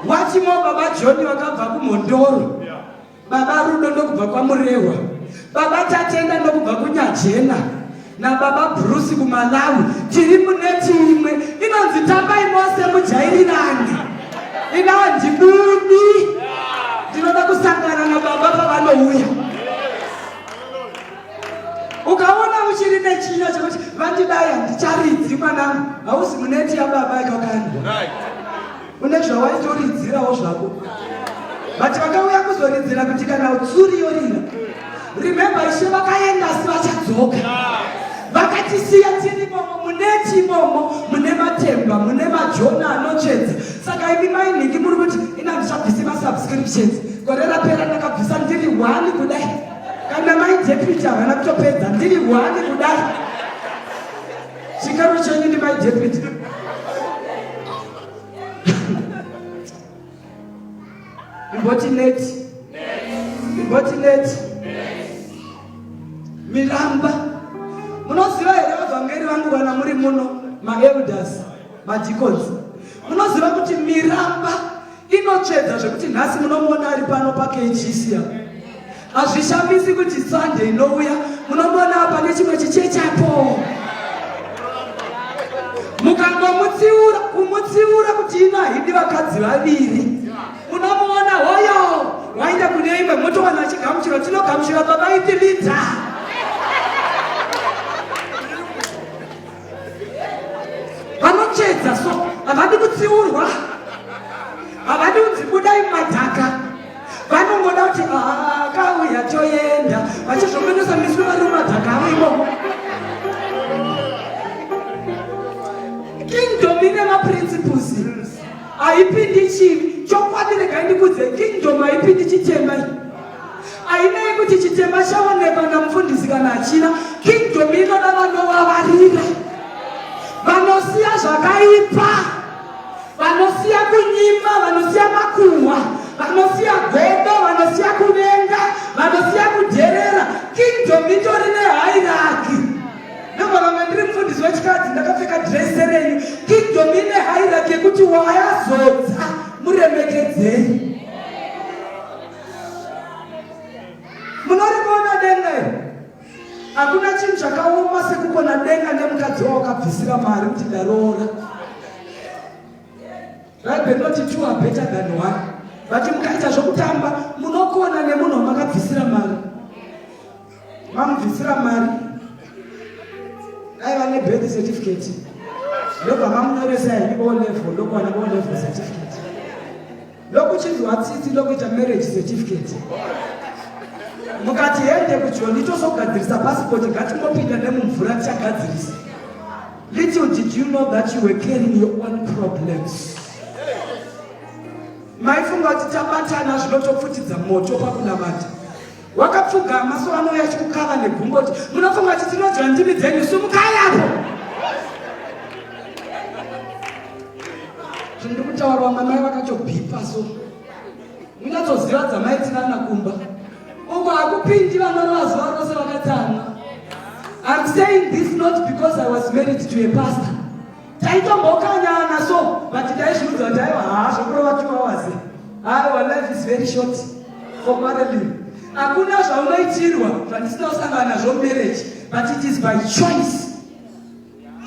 watimo baba johni vakabva kumhondoro Baba Rudo ndokubva kwaMurehwa, Baba Tatenda ndokubva kuNyajena naBaba Bruce kuMalawi. Tiri muneti imwe inonzi Tambai Mose Mujairirani. Inava ndibudi ndinoda kusangana nababa pavanouya. Ukaona uchiri nechinyo chekuti vandidai handicharidzi mwanangu, hausi muneti yababa ikakandwa. Right. une zvawaitoridzirawo zvako but vakauya kuzoridzira kuti kana tsuri yorira remember ishe vakaenda asi vachadzoka vakatisiya tiri imomo mune timomo mune matemba mune majona anochedza saka imi mainhingi muri kuti ina ndichabvisi masubscriptions gore rapera ndakabvisa ndiri one kudai kana mai deputy havana kutopedza ndiri one kudai chikaro chenyu ndi mai deputy Riboti net. Riboti net. Miramba. Munoziva here vavhangeri vangu vana muri muno maelders madeacons. Munoziva kuti miramba inotsvedza zvekuti nhasi munomuona ari pano pakechisia. Hazvishamisi kuti Sunday inouya munomona apa nechimwe chicheche apo. Mukangomutsiura kumutsiura kuti ino haidi vakadzi vaviri. Munomuona hoyo waenda kune imwe motowana chigamuchiro tinogamuchira baba itilita. vanochedza so havadi kutsiurwa havadi kunzi budai madhaka vanongoda kuti akauya toenda vachizvomenosa miswe vari mumadhaka avo imomo kingdom ine maprinciples haipindi chivi chokwadi regai ndikudze kingdom haipindi chitema Ainei kuti chitema chaonekwa namufundisi kana hachina, kingdom inoda vanovavarira, vanosiya zvakaipa, vanosiya kunyima, vanosiya makuhwa, vanosiya godo, vanosiya kuvenga, vanosiya kudherera. Kingdom itori nehairaki. Namba vamwe ndiri mufundisi wechikadzi ndakapfeka drese renyu. Kingdom ine hairaki yekuti wayazodza muremekedzei. munorivona denga iri hakuna chinhu chakaoma sekukona denga nemukadzi wawakabvisira mari kuti ndaroora bhaibheri rinoti two are better than one vati mukaita zvokutamba munokona nemunhu wamakabvisira mari mamubvisira mari dai vane birth certificate ndobva mamunyoresa here o level ndokuwana o level certificate ndokuchinzwa tsitsi ndokuita marriage certificate mukati hende kujoni tozogadzirisa pasipoti ngatingopinda nemumvura tichagadzirisa little did you know that you were carrying your own problems maifunga kuti tabatana zvinotopfutidza moto pakunamata Wakapfuga maso anouya achikukava negumbo kuti munofunga kuti tinodya ndimi dzenyu sumukai apo. Zvindiri kutaurwa mamai vakatobhipa so munyatsoziva dzamaitirana kumba uko hakupindi vanorova zuva rose vakatsamwa. I'm saying this not because I was married to a pastor. taitombokanyana so but taizviudza kuti aiwa haa zvokurova two hours aiwa life is very short for quarreling hakuna zvaunoitirwa zvandisina kusangana nazvo marriage but it is by choice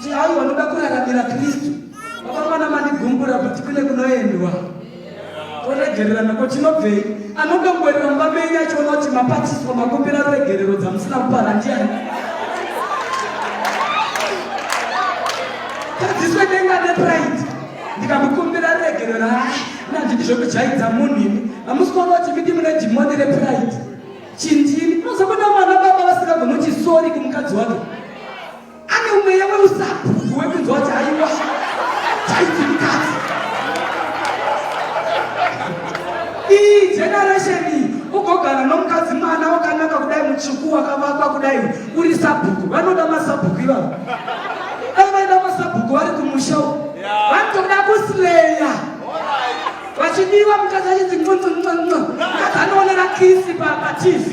ti aiwa ndoda kuraramira kristu vakamana mandigumbura kuti kune kunoendwa kuregererana ko chinobvei anoda kuwerera mumba menyu achiona kuti mapatiswa makumbira ruregerero dzamusina kupara ndiani tadziswe denga nepride ndikamukumbira ruregerero ha nandidi zvekujaidza munhu imi hamusi kuona kuti midi mune dhimoni repride chindini unozokuda mwana baba vasingagoni kuti sori kumukadzi wake Ane umweya weusapupu wekunzwa kuti haiwa chaiti mukadzi. Iyi generation iyi ugogara nomukadzi mwana wakanaka kudai mutsvuku wakavakwa kudai uri sabhuku vanoda masabhuku ivavo dai vaida masabhuku vari kumusha uko vanotoda kusileya vachidiwa mukadzi achinzi nqonqonqonqo mukadzi anoonera kisi pa- patv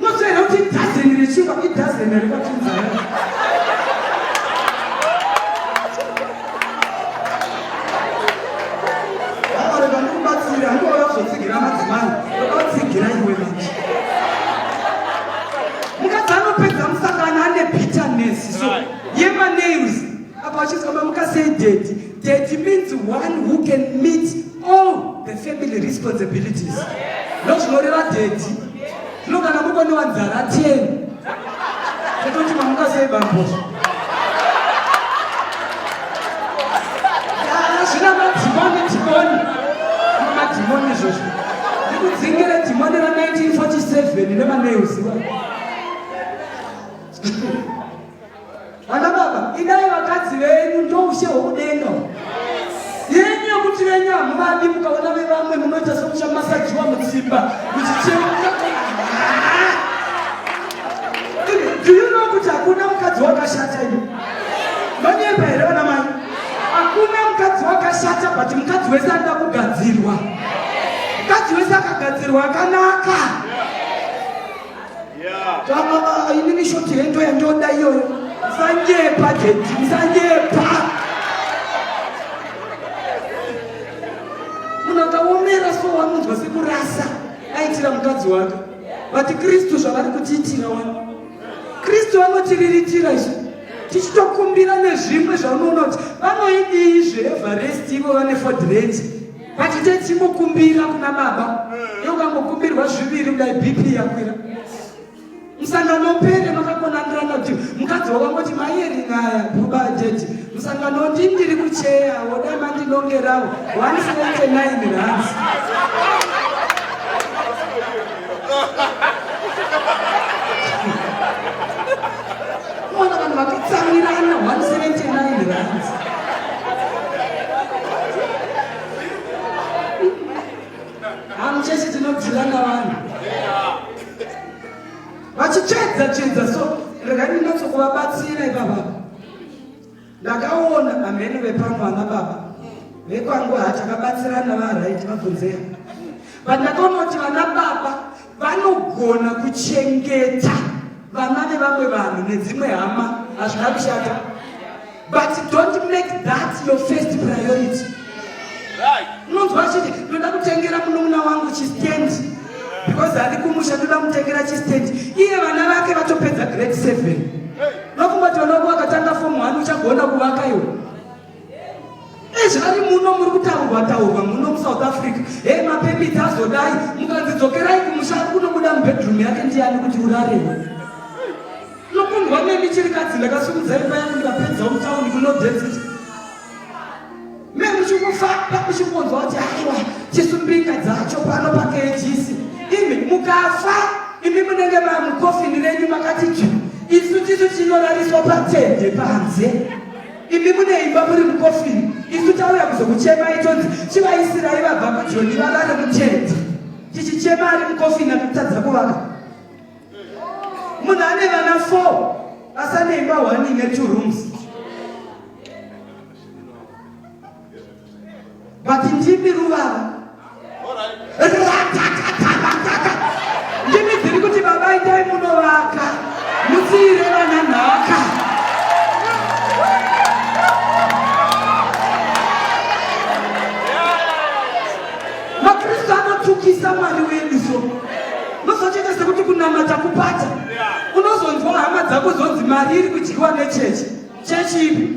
Unozoera kuti idhazeni rechingwa idhazeni rekwatinzara. Vamwari vanokubatsira hangu vakazotsigira madzimai vakatsigira iwe manje. Mukadzi anopedza musangano ane bitterness so yema nails apa achizwa mamukasei daddy daddy means one who can meet all the family responsibilities no zvinoreva dhedhi zvino kana mukonewa nzara teni tototi mamuka sei bambozvo zvina madhimoni dhimoni madhimoni izvozvo ndikudzingire dhimoni ra 1947 nevaneuziwa Vana baba, idai vakadzi venyu ndoushe hwokudenga yenyu yokuti venyu hamuvadi mukaona vevamwe munoita somuchamasajiwa mutsimba muchicheuka do you know kuti hakuna mukadzi wakashata ino vanyepa here vana mai hakuna mukadzi wakashata but mukadzi wese anoda kugadzirwa mukadzi wese akagadzirwa akanaka Zvamama inini shoti hendo yandoda iyoyo. Musanyepa jeti, musanyepa. Munhu akaomera so wanonzwa sekurasa aitira mukadzi wake. Vati Kristu zvavari kutiitira wani. Kristu vanotiriritira izvi. Tichitokumbira nezvimwe zvaunoona kuti vanoidii zveEverest ivo vane Ford Ranger. But tenzi mukumbira kuna baba. Yokangokumbirwa zviviri kudai BP yakwira. Musangano upere makakonandirana kuti mukadzi wakangoti maiyeri nyaya kuba jeji. Musangano ndi ndiri kucheya woda mandinongerawo 179 rands. Mwana vanhu vakatsamwirana 179 rands. Hamuchechi tinodzirana vanhu. Vachichedza chedza so regai ndinatsokuvabatsira ipapa. Ndakaona amhene vepano ana baba vekwangu hatakabatsirana varaiti vabvunzera pandakaonoti vana baba vanogona kuchengeta vana vevamwe vanhu nedzimwe hama hazvina kushata but don't make that your first priority unonzwa achiti ndoda kutengera munun'una wangu chistand because ari kumusha ndoda kutengera chistand iye vana vake vatopedza grade seven nokumbati vana vako vakatanga fom one uchagona kuvaka iwo ezvari muno muri kutaurwa taurwa muno musouth africa he mapepiti azodai mukanzidzokerai kumusha ari kunobuda mubedroom yake ndiyani kuti urarewa nokundwa nemichirikadzi ndakasumudzai paya kundapedza mutauni kunodensity memuchikufamba muchikunzwa kuti aiwa chisumbinga dzacho pano pakejisi imi mukafa imi munenge mamukofini renyu makati ju isu tisu chinorariswa patende panze imi mune imba muri mukofini isu tauya kuzokuchemai tonzi chivaisirai vabva kujoni varare mutende tichichema ari mukofini akutadza kuvaka munhu ane vana four asane imba one ine two rooms but ndimi ruvava ndimi dziri kuti baba itai munovaka musiire vana nhaka makristu anotukisa mwari wedu so unozotoita sekuti kunamata kupata unozonzwa hama dzako zonzi mari iri kudyiwa nechechi chechi ipi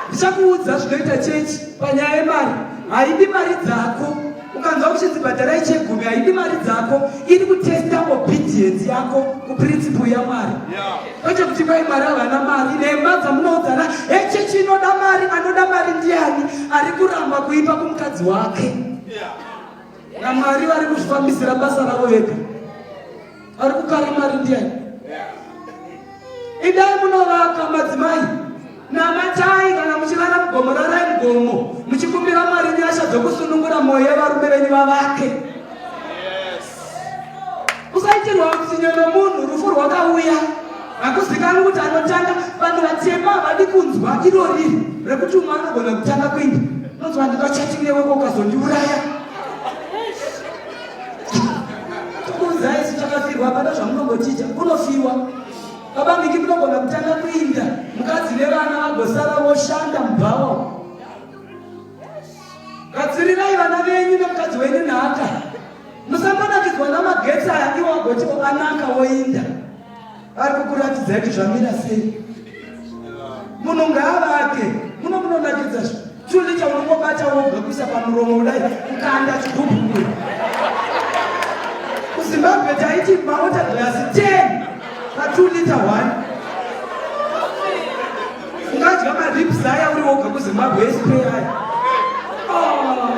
ndichakuudza zvinoita chechi panyaya yemari haidi mari dzako ukanzwa kuchinzi bhadharai chegumi haidi mari dzako iri kutesta obedience yako kuprinciple yamwari yeah. kwete kuti kwai mwari havana mari nhema dzamunoudzana hechechi inoda mari anoda mari ndiani ari kuramba kuipa kumukadzi wake namwari vari kuzvifambisira basa ravo vega ari kukara mari ndiani idai munovaka madzimai Namatai kana muchirara mugomo, rarai mugomo muchikumbira Mwari nyasha dzokusunungura mwoyo yevarume venyu vavake. Usaitirwa utsinye nomunhu, rufu rwakauya. Hakuzikanwi kuti anotanga, vanhu vatema havadi kunzwa iro riri rekuti umwe anogona kutanga kuinda. Unonzwa handina chatting newe ko ukazondiuraya. Tikuudzai isu takafirwa hapana zvamunongotiita, kunofiwa. Baba Miki munogona kutanga kuinda mukadzi nevana vagosara voshanda mubhawa. Gatsirirai vana venyu nemukadzi wenyu nhaka. Musambanakidzwa namagetsi aya iwo agoti anaka woinda. Vari kukuratidzai kuti zvamira sei. Munhu ngaavake muno munonakidza zvi Chuni chaunongobata woga kuisa pamuromo kudai kukanda chigubhu. KuZimbabwe taiti mawater glass 10 pa 2 liter 1. Ungadya marips aya uri woga kuZimbabwe SP aya. Oh,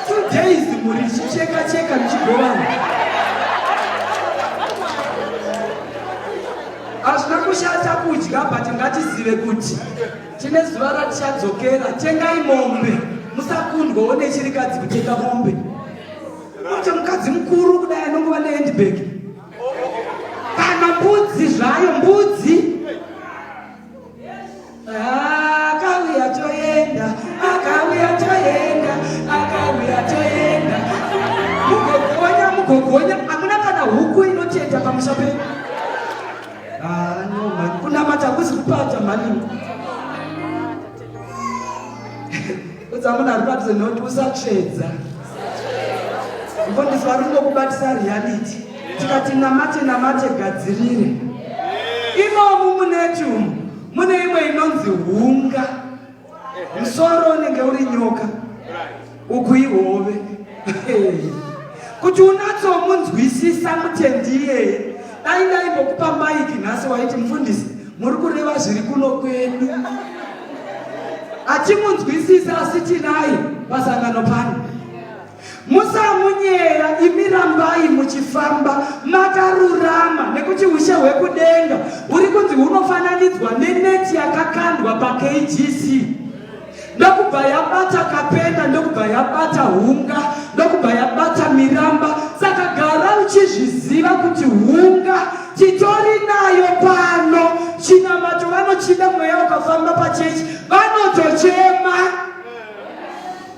two days muri chicheka cheka mchigovana. Hazvina kushata kudya but ngatizive kuti Tine zuva ratichadzokera, tengai mombe. Musakundwawo nechirikadzi kutenga mombe. Ote mukadzi mukuru kudai anongova nehandbag. Kana mbudzi zvayo, mbudzi. Ah, akauya toenda, akauya toenda, akauya toenda. Mugogonya, mugogonya, hamuna kana huku inoteta pamusha penyu. Ah, no mhani kunamata hakusi kupata mhani udza munhu ari padhuze noti usatsvedza mfundisi vari kungokubatisa reality tikati namate namate gadzirire imomu munetumu mune imwe inonzi hunga musoro unenge uri nyoka uku ihove kuti unatsomunzwisisa mutendi iyeye dai ndaimbokupa maiki nhasi waiti mufundisi muri kureva zviri kuno kwedu hatimunzwisisa asi tinaye pasangano pano Musamunyera imi rambai muchifamba makarurama nekuti ushe hwekudenga huri kunzi hunofananidzwa neneti yakakandwa paKGC ndokubva yabata kapenda ndokubva yabata hunga ndokubva yabata miramba saka gara uchizviziva kuti hunga titori nayo pano chinamato vanochida mweya ukafamba pachechi vanotochema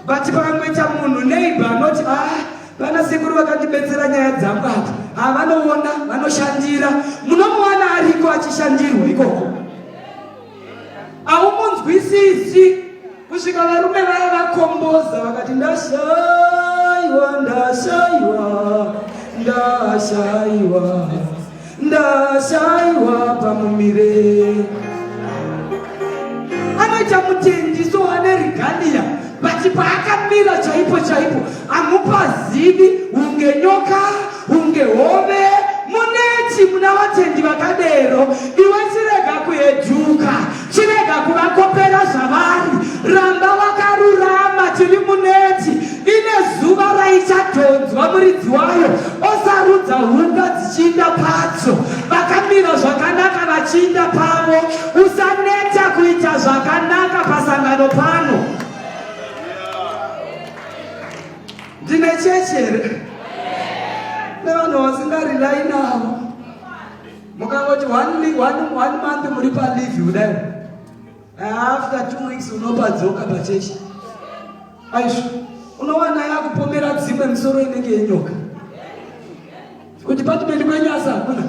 but pamwe chamunhu neighbor anoti ah vana sekuru vakandibetsera nyaya dzangu apa ah, vanoona vanoshandira munomuwana ariko achishandirwa ikoko aumumunzwisisi kusvika varume vaya vakomboza vakati ndashaiwa ndashaiwa ndashaiwa ndashaiwa pamumire anoita mutendiso wanerigania but paakamira chaipo chaipo amupazivi unge nyoka unge hove muneti muna vatendi vakadero iwe chirega kueduka Chirega kuvakopera zvavari, ramba wakarurama, tiri muneti ine zuva raichadhonzwa muridzi wayo osarudza hunga dzichiinda padzo. Vakamira zvakanaka vachiinda pavo, usaneta kuita zvakanaka pasangano pano. Ndine chechi here? Nevanhu vasingarilai navo mukangoti one, one, one month muri palive kudai after two weeks unopadzoka pachechi aizvo unowana yakupomera dzimwe misoro inenge yenyoka kudepartment kwenyu asi hakuna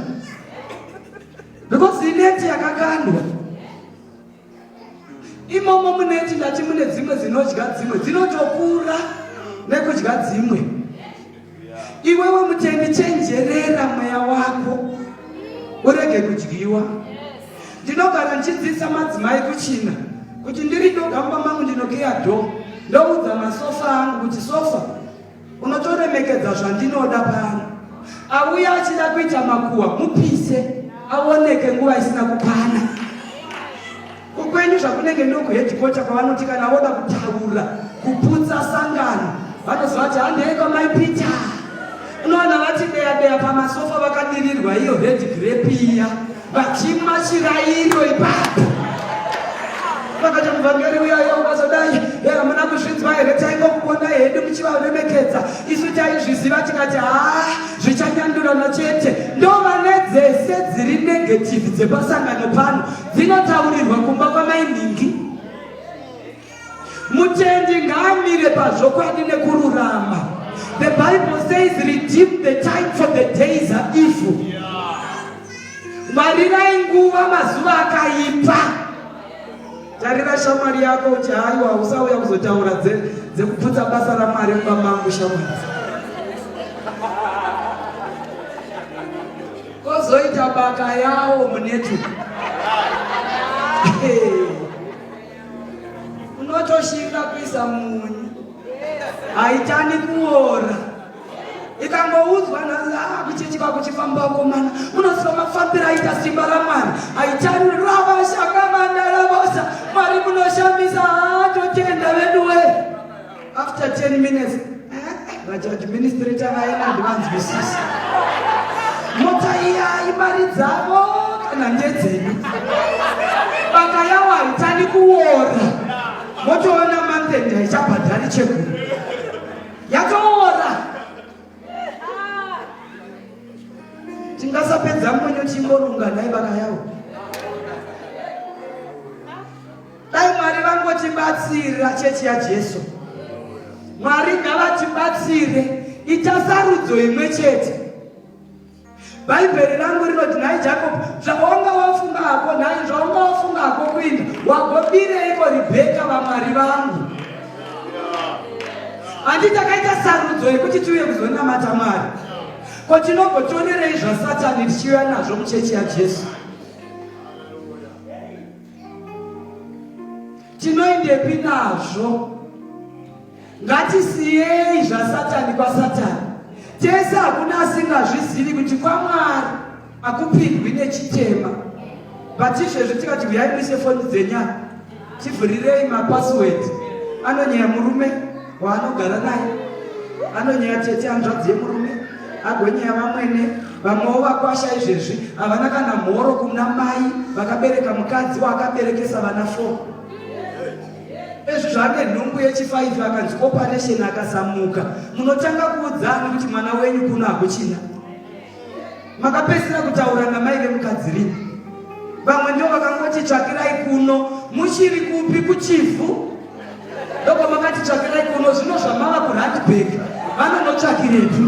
because ineti yakakandwa imomo muneti ndati mune dzimwe dzinodya dzimwe dzinotokura nekudya dzimwe iwewe mutendi chenjerera mweya wako urege kudyiwa ndinogara ndichidzidzisa madzimai kuchina kuti ndiri ndoga mumba mangu ndinokeya dho ndoudza masofa angu kuti sofa unotoremekedza zvandinoda pano auya achida kuita makuwa mupise aoneke nguva isina kukwana kukwenyu zvakunenge ndokuhedhikota kwavanoti kana voda kutaura kuputsa sangano vanozovati handeiko mai pita unoona vati deya deya pamasofa vakadirirwa iyo red grape iya Vachimwa chirairo ipapo vakati muvhangeri uyayo ukazodai hamuna kuzvinzwa here taingokuona hedu muchivaremekedza isu taizviziva tikati haa zvichanyandurana chete ndovane dzese dziri negativi dzepasangano pano dzinotaurirwa kumba kwamainhingi Mutendi ngaamire pazvokwadi nekururama. The Bible says redeem the time for the days are evil. Marirai nguva mazuva akaipa. Tarira shamwari yako uti haiwa usauya kuzotaura dzekuputsa basa raMwari mumba mangu shamwari. Kozoita baka yawo munetwork. Hey. unotoshinga kuisa munyu haitani kuora ikangoudzwa nhasi ah, kuchechi kwakuchifamba komana unoziva mafambiro aita simba ramwari haitani ravashakamandalavosa mwari munoshamisa haatotenda ah, veduwee after 10 minutes vachadministrator vaena ndivanzwisisa mota iya imari dzavo kana ndedzenyu baka yavo haitani kuora motoona mantend haichabhadhari cheguru yakaora tingasapedza mbonyo timborunga nhai baka yavo Dai Mwari vangotibatsira chechi yaJesu. Mwari ngavatibatsire ita sarudzo imwe chete. Bhaibheri rangu rinoti nhai Jacob zvaunga wafunga hako nhai zvaunga wafunga hako kuinda wagobireiko Rebheka vaMwari vangu. Handi takaita sarudzo yekuti tiuye kuzonamata Mwari. Ko tinogotorerei zvasatani tichiuya nazvo muchechi yaJesu? tinoendepi nazvo ngatisiyei zvasatani kwasatani tese hakuna asingazvizivi kuti kwamwari akupindwi nechitema but izvezvi tikati huyai muise foni dzenyaya tivhurirei mapasword anonyaya murume waanogara naye anonyeya tete hanzvadzi yemurume agwenyeya vamwene vamwewo vakwasha izvezvi havana kana mhoro kuna mai vakabereka mukadzi waakaberekesa vana fo ezvi zvaane nhumbu yechifaifi akanzi operation akasamuka munotanga kuudzani kuti mwana wenyu kuno hakuchina makapedzisira kutaura namai vemukadzi rini vamwe ndo vakangoti tsvakirai kuno muchiri kupi kuchivhu ndoko makati tsvakirai kuno zvino zvamava kuradbek vanonotsvakirepi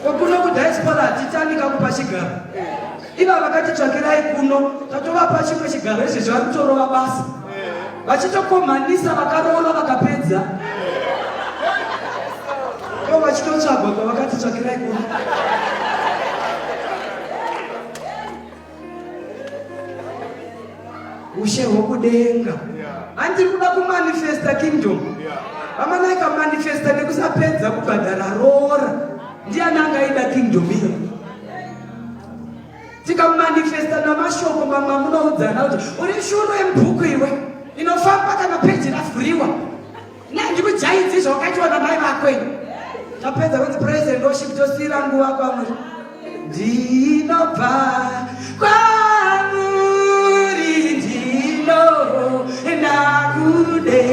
kokuno kudiaspora hatitani kakupa chigaro Iva vakati tsvakirai kuno tatovapa chimwe chigaro izvi zvari kutorova basa vachitokomhanisa vakaroora vakapedza ivo vachitotsvagwa kwavakati tsvakirai kuno ushe hwokudenga andiri kuda kumanifesta kingdom vamanaika manifesta nekusapedza kubhadhara roora ndiani angaida kingdom iyo tikamanifesta namashoko mamwe amunoudzana kuti uri shuro yemubhuku iwe inofamba kana peji ravhuriwa nei ndikujaidzi zvawakaitiwa namai vako ini tapedza kuti praise and worship tosiira nguva kwamuri ndinobva kwamuri ndino ndakude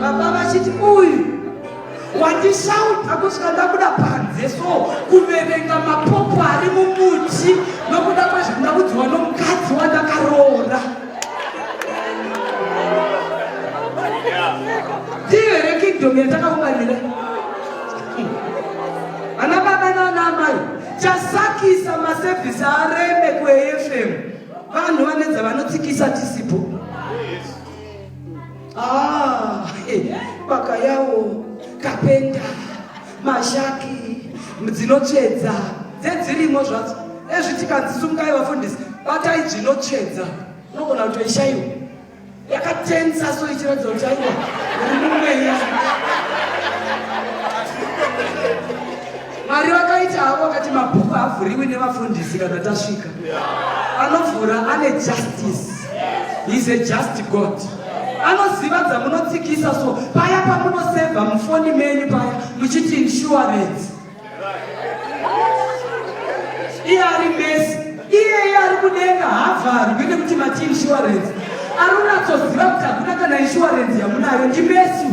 baba vachiti uyu wandishaudha kusvika ndabuda panze so kuverenga mapopo ari mumuti nokuda kwezvandakudziwa nomukadzi wandakaroora ndiyo here kingdom yatakaunganira ana baba naana amai chasakisa masevhisi areme kuefm vanhu vanedza vanotsikisa tisipo Ah, baka yawo kapenda mashaki dzinotsvedza dzedzirimo zvadzo ezvi tikanzi sungai vafundisi batai dzinotsvedza unogona kutoishaiwa yakatensa so ichiratidza kuti aiwa uri mumweya Mwari vakaita havo vakati mabhuku haavhuriwi nevafundisi kana tasvika. Anovhura ane justice. He's a just God. Anoziva dzamunotsikisa so paya pamunoseva mufoni menyu paya muchiti insurance. Iye ari mesi. Iyeye ari kudenga haavharwi nekuti mati insurance. Ari unatsoziva kuti hakuna kana insurance yamunayo ndi mesi.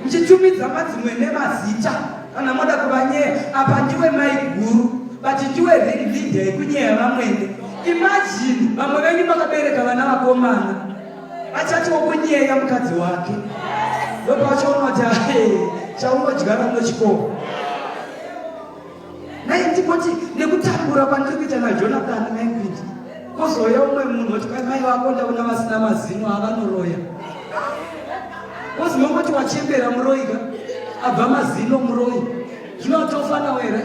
muchitumidza madzimwe nemazita kana moda kuvanyeya apa ndiwe mai guru but ndiwe ring leader yekunyeya vamwene imajini vamwe venyu makabereka vana vakomana achati wokunyeya mukadzi wake ndopachaona kuti ae chaungodyara munochikoro Nhai Timoti, nekutambura kwandiri kuita naJonathan Mengrid, kozouya umwe munhu oti kwai mai vako ndaona vasina mazino avanoroya. Koziva kuti wachembera muroyi ka? Abva mazino muroyi. Zvino watofana were?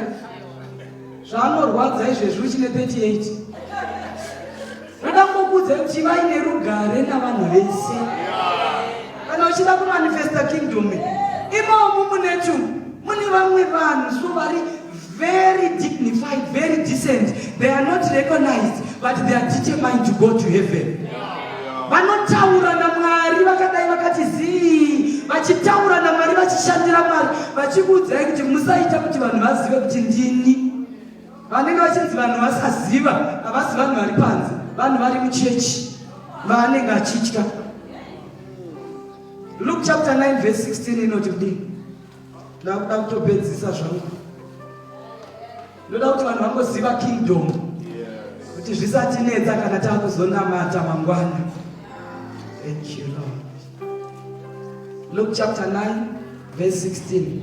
Zvaanorwadza izvezvi uchine 38. Ndoda kukuudza kuti ivai nerugare navanhu vese. Kana uchida kumanifesta kingdom imomu munetu mune vamwe vanhu so vari very dignified, very decent. They are not recognized but they are determined to go to heaven. Vanotaura naMwari vakadai vakati zii vachitaura naMwari vachishandira Mwari vachikuudzai kuti musaita kuti vanhu vazive kuti ndini. Vanenge vachinzi vanhu vasaziva havasi vanhu vari panze, vanhu vari muchechi vaanenge achitya. Luke chapter 9 verse 16 inoti kudii? Ndakuda kutopedzisa zvangu. Ndoda kuti vanhu vangoziva kingdom kuti zvisatinetsa kana tava kuzonamata mangwana. Thank you Lord. Luke chapter 9 verse 16.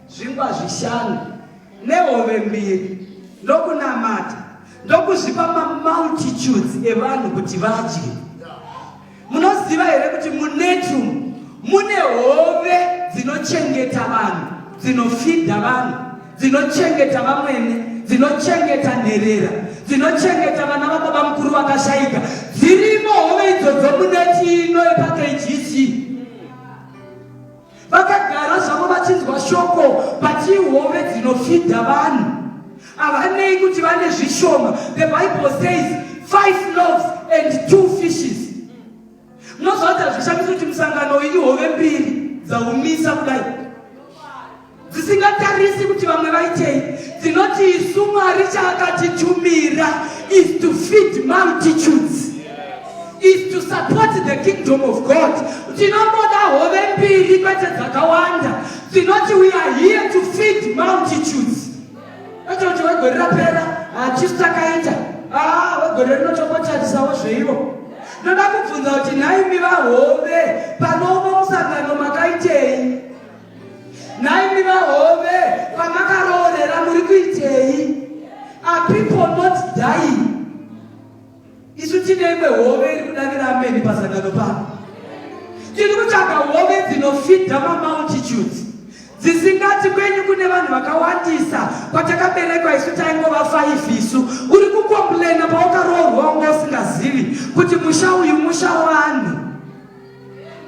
zvingwa zvishanu nehove mbiri ndokunamata ndokuzvipa mamultitudes evanhu kuti vadye munoziva here kuti munetum mune hove dzinochengeta vanhu dzinofidha vanhu dzinochengeta vamwene dzinochengeta nherera dzinochengeta vana vababa mukuru vakashayika dzirimo hove idzodzo muneti ino epakgc Vakagara zvavo vachinzwa shoko pachihove dzinofidha vanhu. Havanei kuti vane zvishoma. The Bible says five loaves and two fishes. Munozvaita zvishamiso kuti musangano iyi hove mbiri dzaumisa kudai. dzisingatarisi kuti vamwe vaitei dzinoti isu mwari chaakatitumira is to feed multitudes is to support the kingdom of god tinongoda hove mbiri kwete dzakawanda dzinoti we are here to feed multitudes atokuti wegore rapera hatisu takaita ah, wegore rinotombotarisawo zveivo ndoda kubvunza kuti nhaimi vahove panouno musangano makaitei Nhaimi vahove pamakaroorera muri kuitei? Are people not dying? Isu tine imwe hove iri kudavira ameni pasangano pano. Tiri kutsvaga hove dzinofidha mamultitudes dzisingati kwenyu kune vanhu vakawandisa kwatakaberekwa isu taingova faifi isu uri kukomplena paukaroorwa wanga usingazivi kuti musha uyu musha wani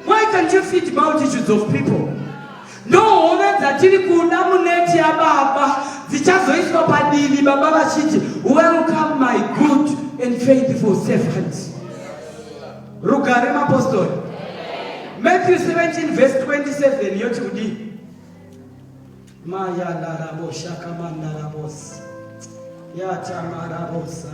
Why can't you feed multitudes of people? Ndohove dzatiri kuda muneti yababa dzichazoiswa padivi baba vachiti welcome my good and faithful servant. Rugare mapostori. Matthew 17 verse 27 yoti kudii? Maya larabo shakamanda rabos. Yata marabosa.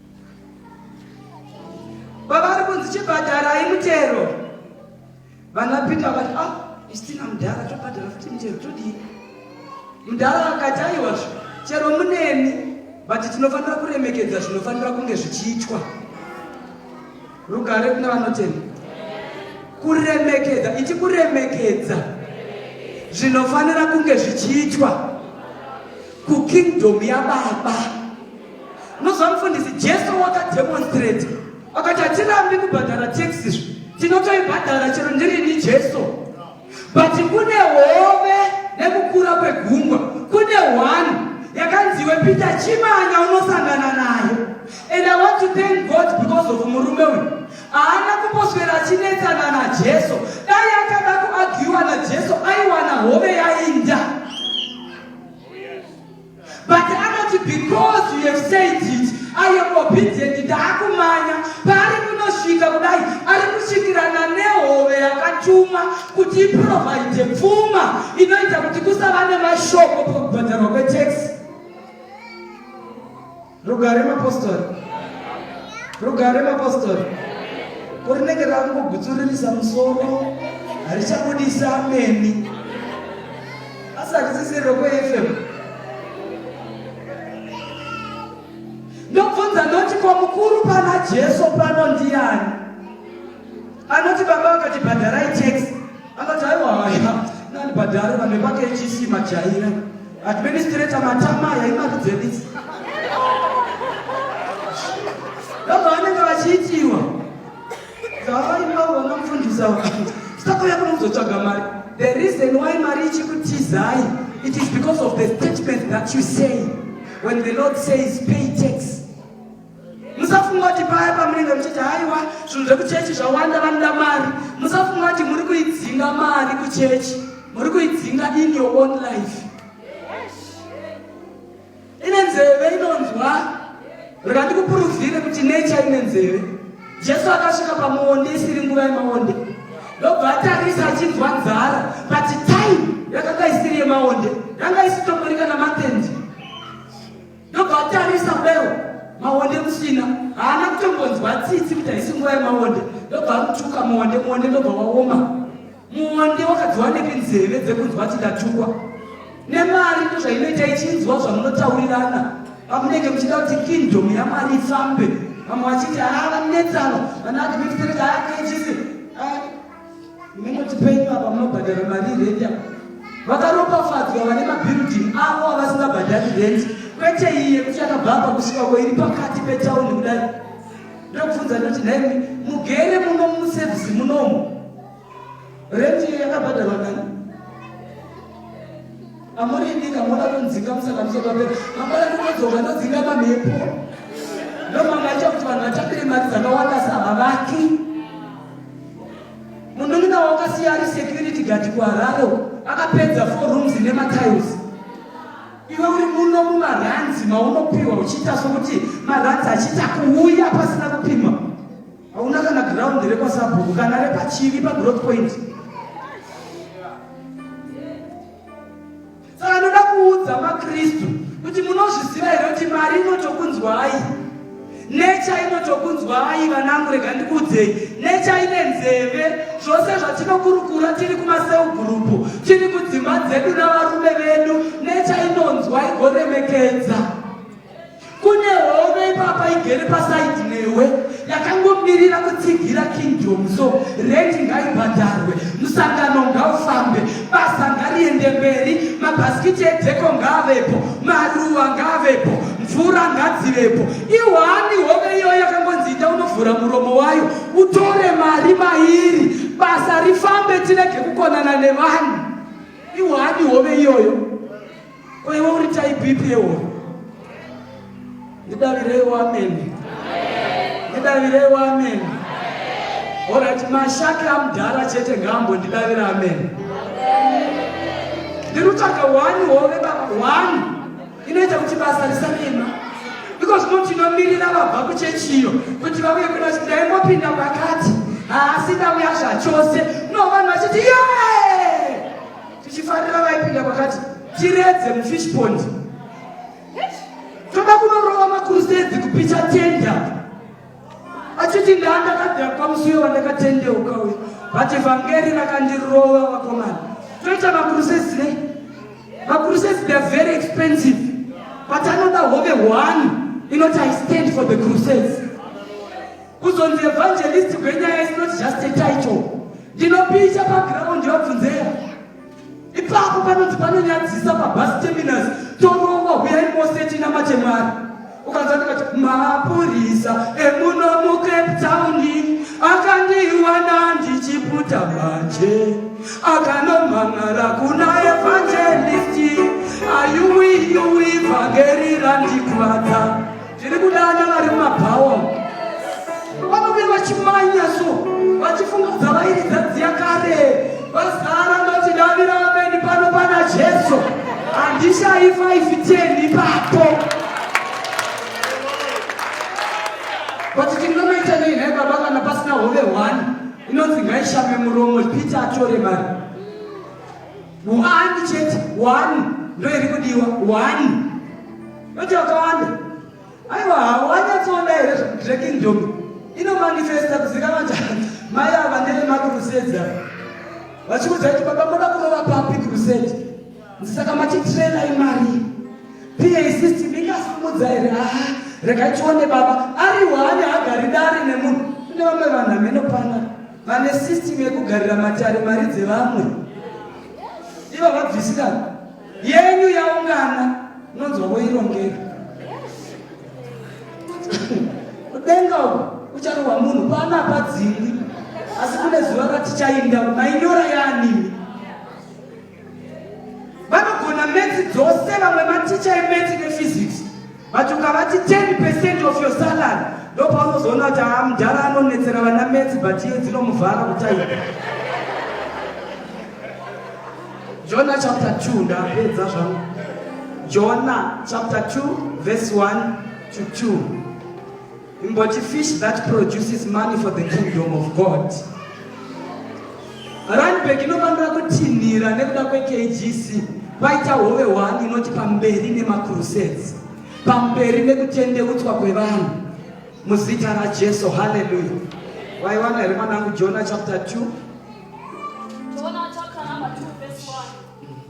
Pavari kunzi chibhadharai mutero. Vana Peter vati ah istina mudhara tobhadhara futi mutero todii. Mudhara akati aiwa chero muneni but tinofanira kuremekedza zvinofanira kunge zvichiitwa. Rugare kuna vanotenda. Kuremekedza ichi kuremekedza zvinofanira kunge zvichiitwa kukingdom yababa. Unoziva mufundisi, Jesu wakademonstrate akati hatirambi kubhadhara tax izvo tinotoibhadhara chero ndirini Jesu but kune hove nekukura kwegungwa kune one yakanziwe Peter Chimanya unosangana nayo and I want to thank God because of murume uyu haana kumboswera achinetsana naJesu dai akada kuagiwa naJesu aiwana hove yainda But anoti because you have said it I am obedient ndaakumanya paari kunosvika kudai ari kusvikirana nehove yakatuma kuti iprovide pfuma inoita kuti kusava nemashoko pakubhadharwa kwetaxi Rugare mapostori. Rugare mapostori. Kurinenge rakungogutsuririsa musoro harichabudisa ameni. Asi harisisiri rokweFM. Ndobvunza ndoti kwa mukuru pana Jesu pano ndiani? Anoti baba vakatibhadharai tax Akati aiwa haya nani padare vanhu vepake ichisi majaira administrator matama aya imari dzenisi ndobva vanenge vachiitiwa dzavaimbaona mufundisa sakauya kuno kuzotsvaga mari the reason why mari ichikutizai it is because of the statement that you say when the lord says pay tax musafunga kuti paya pamunenge muchiti haiwa zvinhu zvekuchechi zvawanda vanoda mari musafunga kuti muri kuidzinga mari kuchechi muri kuidzinga in your own life ine nzeve inonzwa rega ndikupuruvhire kuti nature ine nzeve jesu akasvika pamuonde isiri nguva yemaonde ndobva atarisa achinzwa nzara but time yakanga isiri yemaonde yanga isitomborika namatendi ndobva atarisa kudaio maonde kusina haana kutombonzwa tsitsi kuti haisi nguva yemaonde ndobva akutuka muonde muonde ndobva waoma muonde wakadziwa nepi nzeve dzekunzwa kuti ndatukwa nemari ndo zvainoita ichinzwa zvamunotaurirana vamunenge muchida kuti kingdom yamari ifambe vamwe vachiti haa vanetsano vanaadministrate ayakechisi Minoti penyu apa munobhadhara mari rent apa. Vakaropafadzwa vane mabuilding avo avasingabhadhari rent kwete iye kuti akabva apa kusvika ko iri pakati petown kudai. Ndokubvunza ndoti nhai mugere muno muservice munomu. Rent iyo yakabhadharwa kani? Amurindika moda kunzinga musaka musokapera. Mangwana ndinodzoka ndodzinga mamhepo. Ndomanga acha kuti vanhu vatambire mari dzakawanda sahavaki. Munun'ina wakasiya ari security guard kuHarare akapedza four rooms nematiles. Iwe uri muno mumaranzi maunopiwa uchiita sokuti maranzi achiita kuuya pasina kupima. hauna kana ground rekwasabhuku kana repachivi pagrowth point saka ndoda kuudza makristu kuti munozviziva here kuti mari inotokunzwai necha inotokunzwai vanangu rega ndikuudzei necha ine nzeve zvose zvatinokurukura tiri kumaseu gurupu tiri kudzimba dzedu navarume vedu necha inonzwa igoremekedza Kune hove ipapa igere paside newe yakangomirira kutsigira kingdom so rendi ngaibhadharwe musangano ngaufambe basa ngariende mberi mabhasikiti edheko ngaavepo maruva ngaavepo mvura ngadzivepo ihwani hove iyoyo yakangonzi ita unovhura muromo wayo utore mari mairi basa rifambe tirege kukonana nevanhu ihwani hove iyoyo Ko iwe uri type ipi yewo? Ndidavireiwo amen. Ndidavireiwo amen. Alright, mashaki amudhara chete ngambo ndidavira amen. Ndirutsvaga one hove baba one inoita kuti basa risanema because no tinomirira vabva kuchechi iyo kuti vauye kuna kuti ndaingopinda pakati haasi ndauya zvachose no vanhu vachiti yee tichifarira vaipinda kwakati tiredze mufish pond toda kunorova makurusezi kupicha tenda achiti ndaandakadira pamusuyo wandakatendeuka uyo but vhangeri rakandirova vakomana toita makurusezi nei makurusezi theyare very expensive but anoda hove one inoti i stand for the crusades Kuzonzi evangelist gwenyaya is not just a title. Ndinopicha paground yabvunzeya. Ipapo panonzi panonyadzisa pabus terminus torova huyai mose tinamate Mwari. Ukanzwa ndikati mapurisa emuno muCape Town akandiwana ndichiputa manje akanomhan'ara kuna evangelist ayuwiyuwi vhangeri randikuvadza Ndiri kuda vana vari mumabhawa vanobe vachimanya so vachifungudza vairidza dziya kare vazara ndochidavira vameni pano pana Jesu handishayi 510 ipapo kuti tinomaita nei nhai baba kana pasina hove hwani inonzi ngaishame muromo peter atore mari One chete, one. Ndio ilikudiwa, one. Yote wakawanda. Aiwa, hawanyatsoona here zvekingdom inomanifesta kuzikana kuti mai ava ndeve makrusedi ava vachikuudza kuti baba moda kurova papi krusedi ndisaka matitrela imari pa system ingasimudza here a ah, rega tione baba ari one hagari dare nemunhu kune vamwe vanhu ameno panaa Vane system yekugarira matare mari dzevamwe. Iva vabvisira yenyu yaungana nonzwa voirongera. Kudenga uko kucharohwa munhu pana padzingwi asi kune zuva ratichainda mainyora yaanimi. vanogona metsi dzose vamwe maticha emetsi nephysics but ukavati 10 percent of your salary ndopaunozoona kuti aa mudhara anonetsera vana metsi but iye dzinomuvhara kutaipa jona chapter 2 ndapedza zvangu jona chapter 2 verse 1 to 2 Imboti fish that produces money for the kingdom of God. Runback inofanira kutinhira nekuda kweKGC kwaita hove one inoti pamberi nemacrusades, pamberi nekutendeutswa kwevanhu muzita raJesu. Haleluya! Waiwana here mwanangu Jona chapter 2? Jona chapter number 2 verse 1.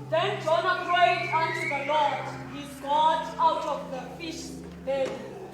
Then Jona prayed unto the Lord his God out of the fish belly.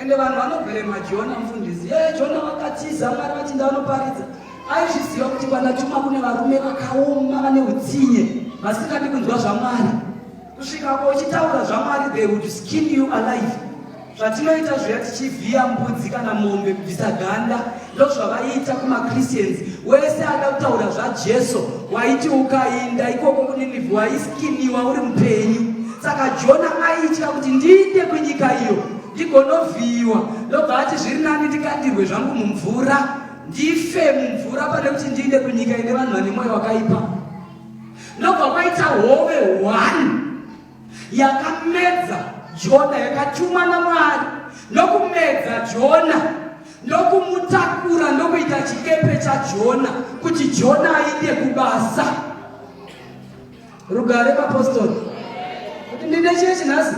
Ende vanhu vanobhema Jona mfundisi. Yeye Jona wakatiza Mwari vachinda vanoparidza. Aizviziva kuti kwana chuma kune varume vakaoma vane utsinye vasingadi kunzwa zvaMwari. Kusvika ko uchitaura zvaMwari they would skin you alive. Zvatinoita zviya tichivhiya mbudzi kana mombe kubvisa ganda ndozvavaiita kumachristians wese ada kutaura zvajesu waiti ukainda ikoko kuninivi waiskiniwa uri mupenyu saka jona aitya kuti ndiinde kwenyika iyo ndigonovhiyiwa ndobva ati zviri nani ndikandirwe zvangu mumvura ndife mumvura pane kuti ndiinde kwenyika ine vanhu vane mwoyo wakaipa ndobva kwaita hove one yakamedza Jona, yakatumwa naMwari nokumedza Jona ndokumutakura ndokuita chikepe chaJona kuti Jona ainde kubasa. Rugare mapostori kuti ndine chiye chinhasi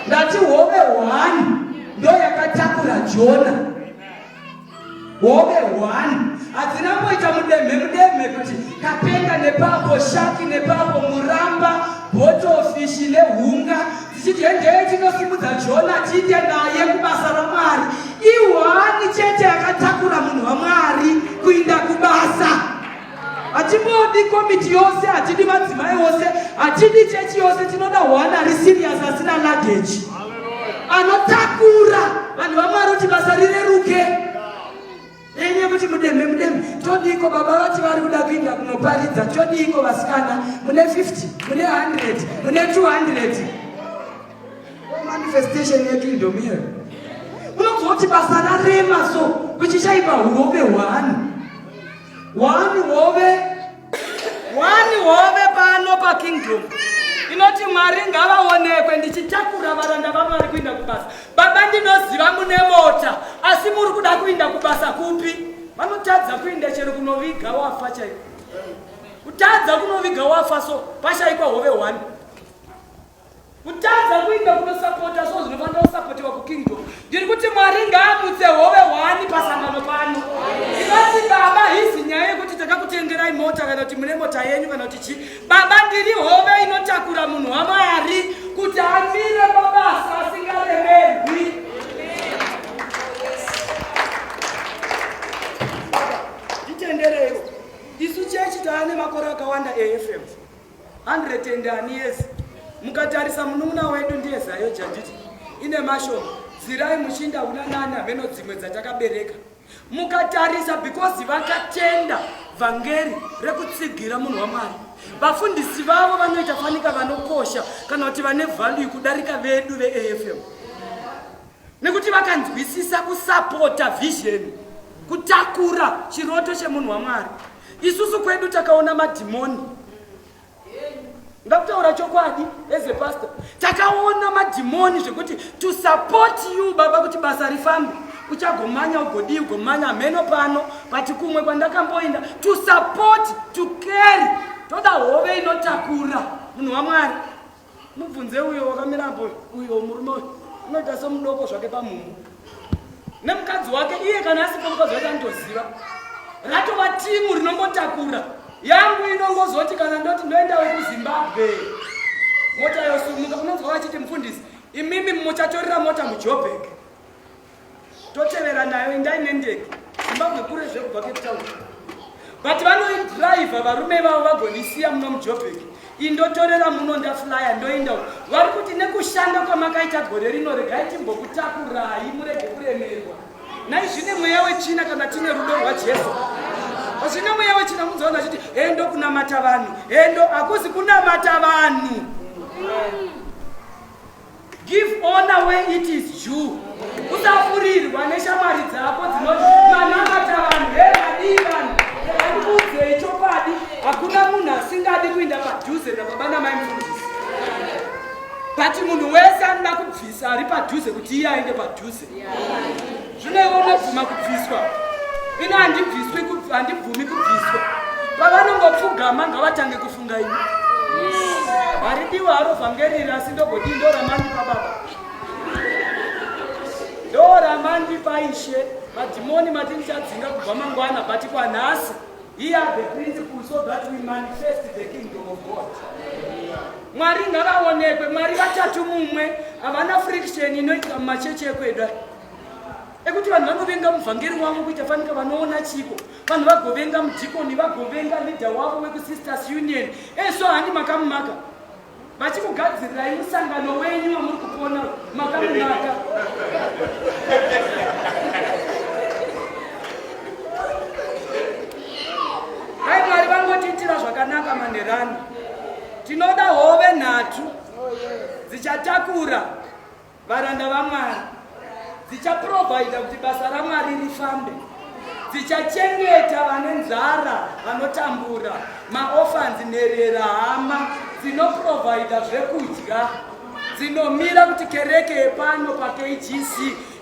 ndati hove hwani ndoyakatakura Jona hove hwani hadzina kuita mudemhe mudemhe kuti kapenga nepapo shaki nepapo muramba botofishi nehunga dzichiti hendei tinosimudza jona tiite naye kubasa ramwari ihwani chete yakatakura munhu wamwari kuinda kubasa Hatibodi komiti yose, hatidi madzimai ose, hatidi chechi yose, tinoda one ari serious asina luggage. Anotakura vanhu vaMwari kuti basa rireruke. Nenye kuti mudemhe mudemhe, todiko baba vati vari kuda kuinda kunoparidza, todiko vasikana, mune 50, mune 100, mune 200. Manifestation yedu indomira. Unozoti basa rarema so kuchichaipa hurobe hwani. One hove. One hove pano pa kingdom. Inoti Mwari ngavaonekwe ndichitakura varanda vaMwari kuinda kubasa. Baba ndinoziva mune mota asi muri kuda kuinda kubasa kupi? Vanotadza kuinda chero kunoviga wafa chaiko. Kutadza kunoviga wafa so pashaikwa hove one. kutadza kuinda kunosapota so zvinofanira kusapotewa kukingdom ndiri kuti mwari ngaamutse hove hwani pasangano pano ndinoti baba hizi nyaya yekuti takakutengerai mota kana kuti mune mota yenyu kana kuti chii baba ndiri hove inotakura munhu wamwari kuti amire pabasa asingaremerwi nditendereiwo isu chechi taane makore akawanda efm 100 and ani years mukatarisa munun'una wedu ndiye zayo janditi ine mashoma zirai muchinda una nani hameno dzimwe dzatakabereka mukatarisa because vakatenda vhangeri rekutsigira munhu wamwari vafundisi vavo vanoita fanika vanokosha kana kuti vane value kudarika vedu veafm nekuti vakanzwisisa kusapota vhizheni kutakura chiroto chemunhu wamwari Isusu kwedu takaona madhimoni. Ndakutaura chokwadi as a pastor. Takaona madhimoni zvekuti to support you baba kuti basa rifambe. Uchagomanya ugodii ugomanya hameno pano but kumwe kwandakamboenda to support to carry toda hove inotakura munhu waMwari. mubvunze uyo wakamira apo uyo murume uyo unoita somudoko zvake pamumhu nemukadzi wake iye kana asipo mukadzi wake anotoziva ratova timu rinongotakura yangu inongozoti kana ndoti ndoendawo kuzimbabwe mota yosumuka unonzwa vachiti mufundisi imimi muchatorera mota mujobheki totevera nayo indai nendege zimbabwe kure zvekubva cape town but vanoidriva varume vavo vagonisiya muno mujobek indotorera muno ndaflya ndoinda vari kuti nekushanda kwamakaita gore rino regai timbokutakurai murege kuremerwa nai zvine mweya wechina kana tine rudo rwajesu zvine mweya wechina kunzoona chiti hendo kunamata vanhu hendo hakuzi kunamata vanhu Give honor where it is due. Usafurirwa neshamwari dzako dzinomanamata vanhu hevadii vanhu andikuudzei chokwadi hakuna munhu asingadi kuinda padhuze nababa namai mfundisi but munhu wese anoda kubvisa ari padhuze kuti iye aende padhuze zvino ivo unobvuma kubviswa ini handibviswi handibvumi kubviswa pavanongopfugama ngavatange kufunga ini haridiwa haro vhangeriri asi ndogoti ndoramandi pababa ndoramandi paishe madhimoni mati ndichadzinga kubva mangwana but kwanhasi Here are the principles so that we manifest the kingdom of God. Mwari ngavaonekwe, Mwari vatatu mumwe, havana friction inoitika mumachechi ekwedu ekuti vanhu vanovenga muvhangeri wavo kuita fanika vanoona chiko vanhu vagovenga mudhikoni vagovenga leader wavo wekusisters union eso handi makamumaka vachikugadzirirai musangano wenyu wamuri kupona makamunaka hai mwari vangotiitira zvakanaka manherani tinoda hove nhatu dzichatakura varanda vamwari dzichaprovaida kuti basa ramwari rifambe dzichachengeta vane nzara vanotambura maofanzi nherera hama dzinoprovaida zvekudya dzinomira kuti kereke yepano pakgc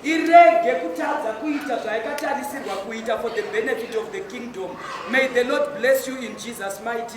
irege kutadza kuita zvaikatarisirwa kuita for the benefit of the kingdom may the lord bless you in jesus mighty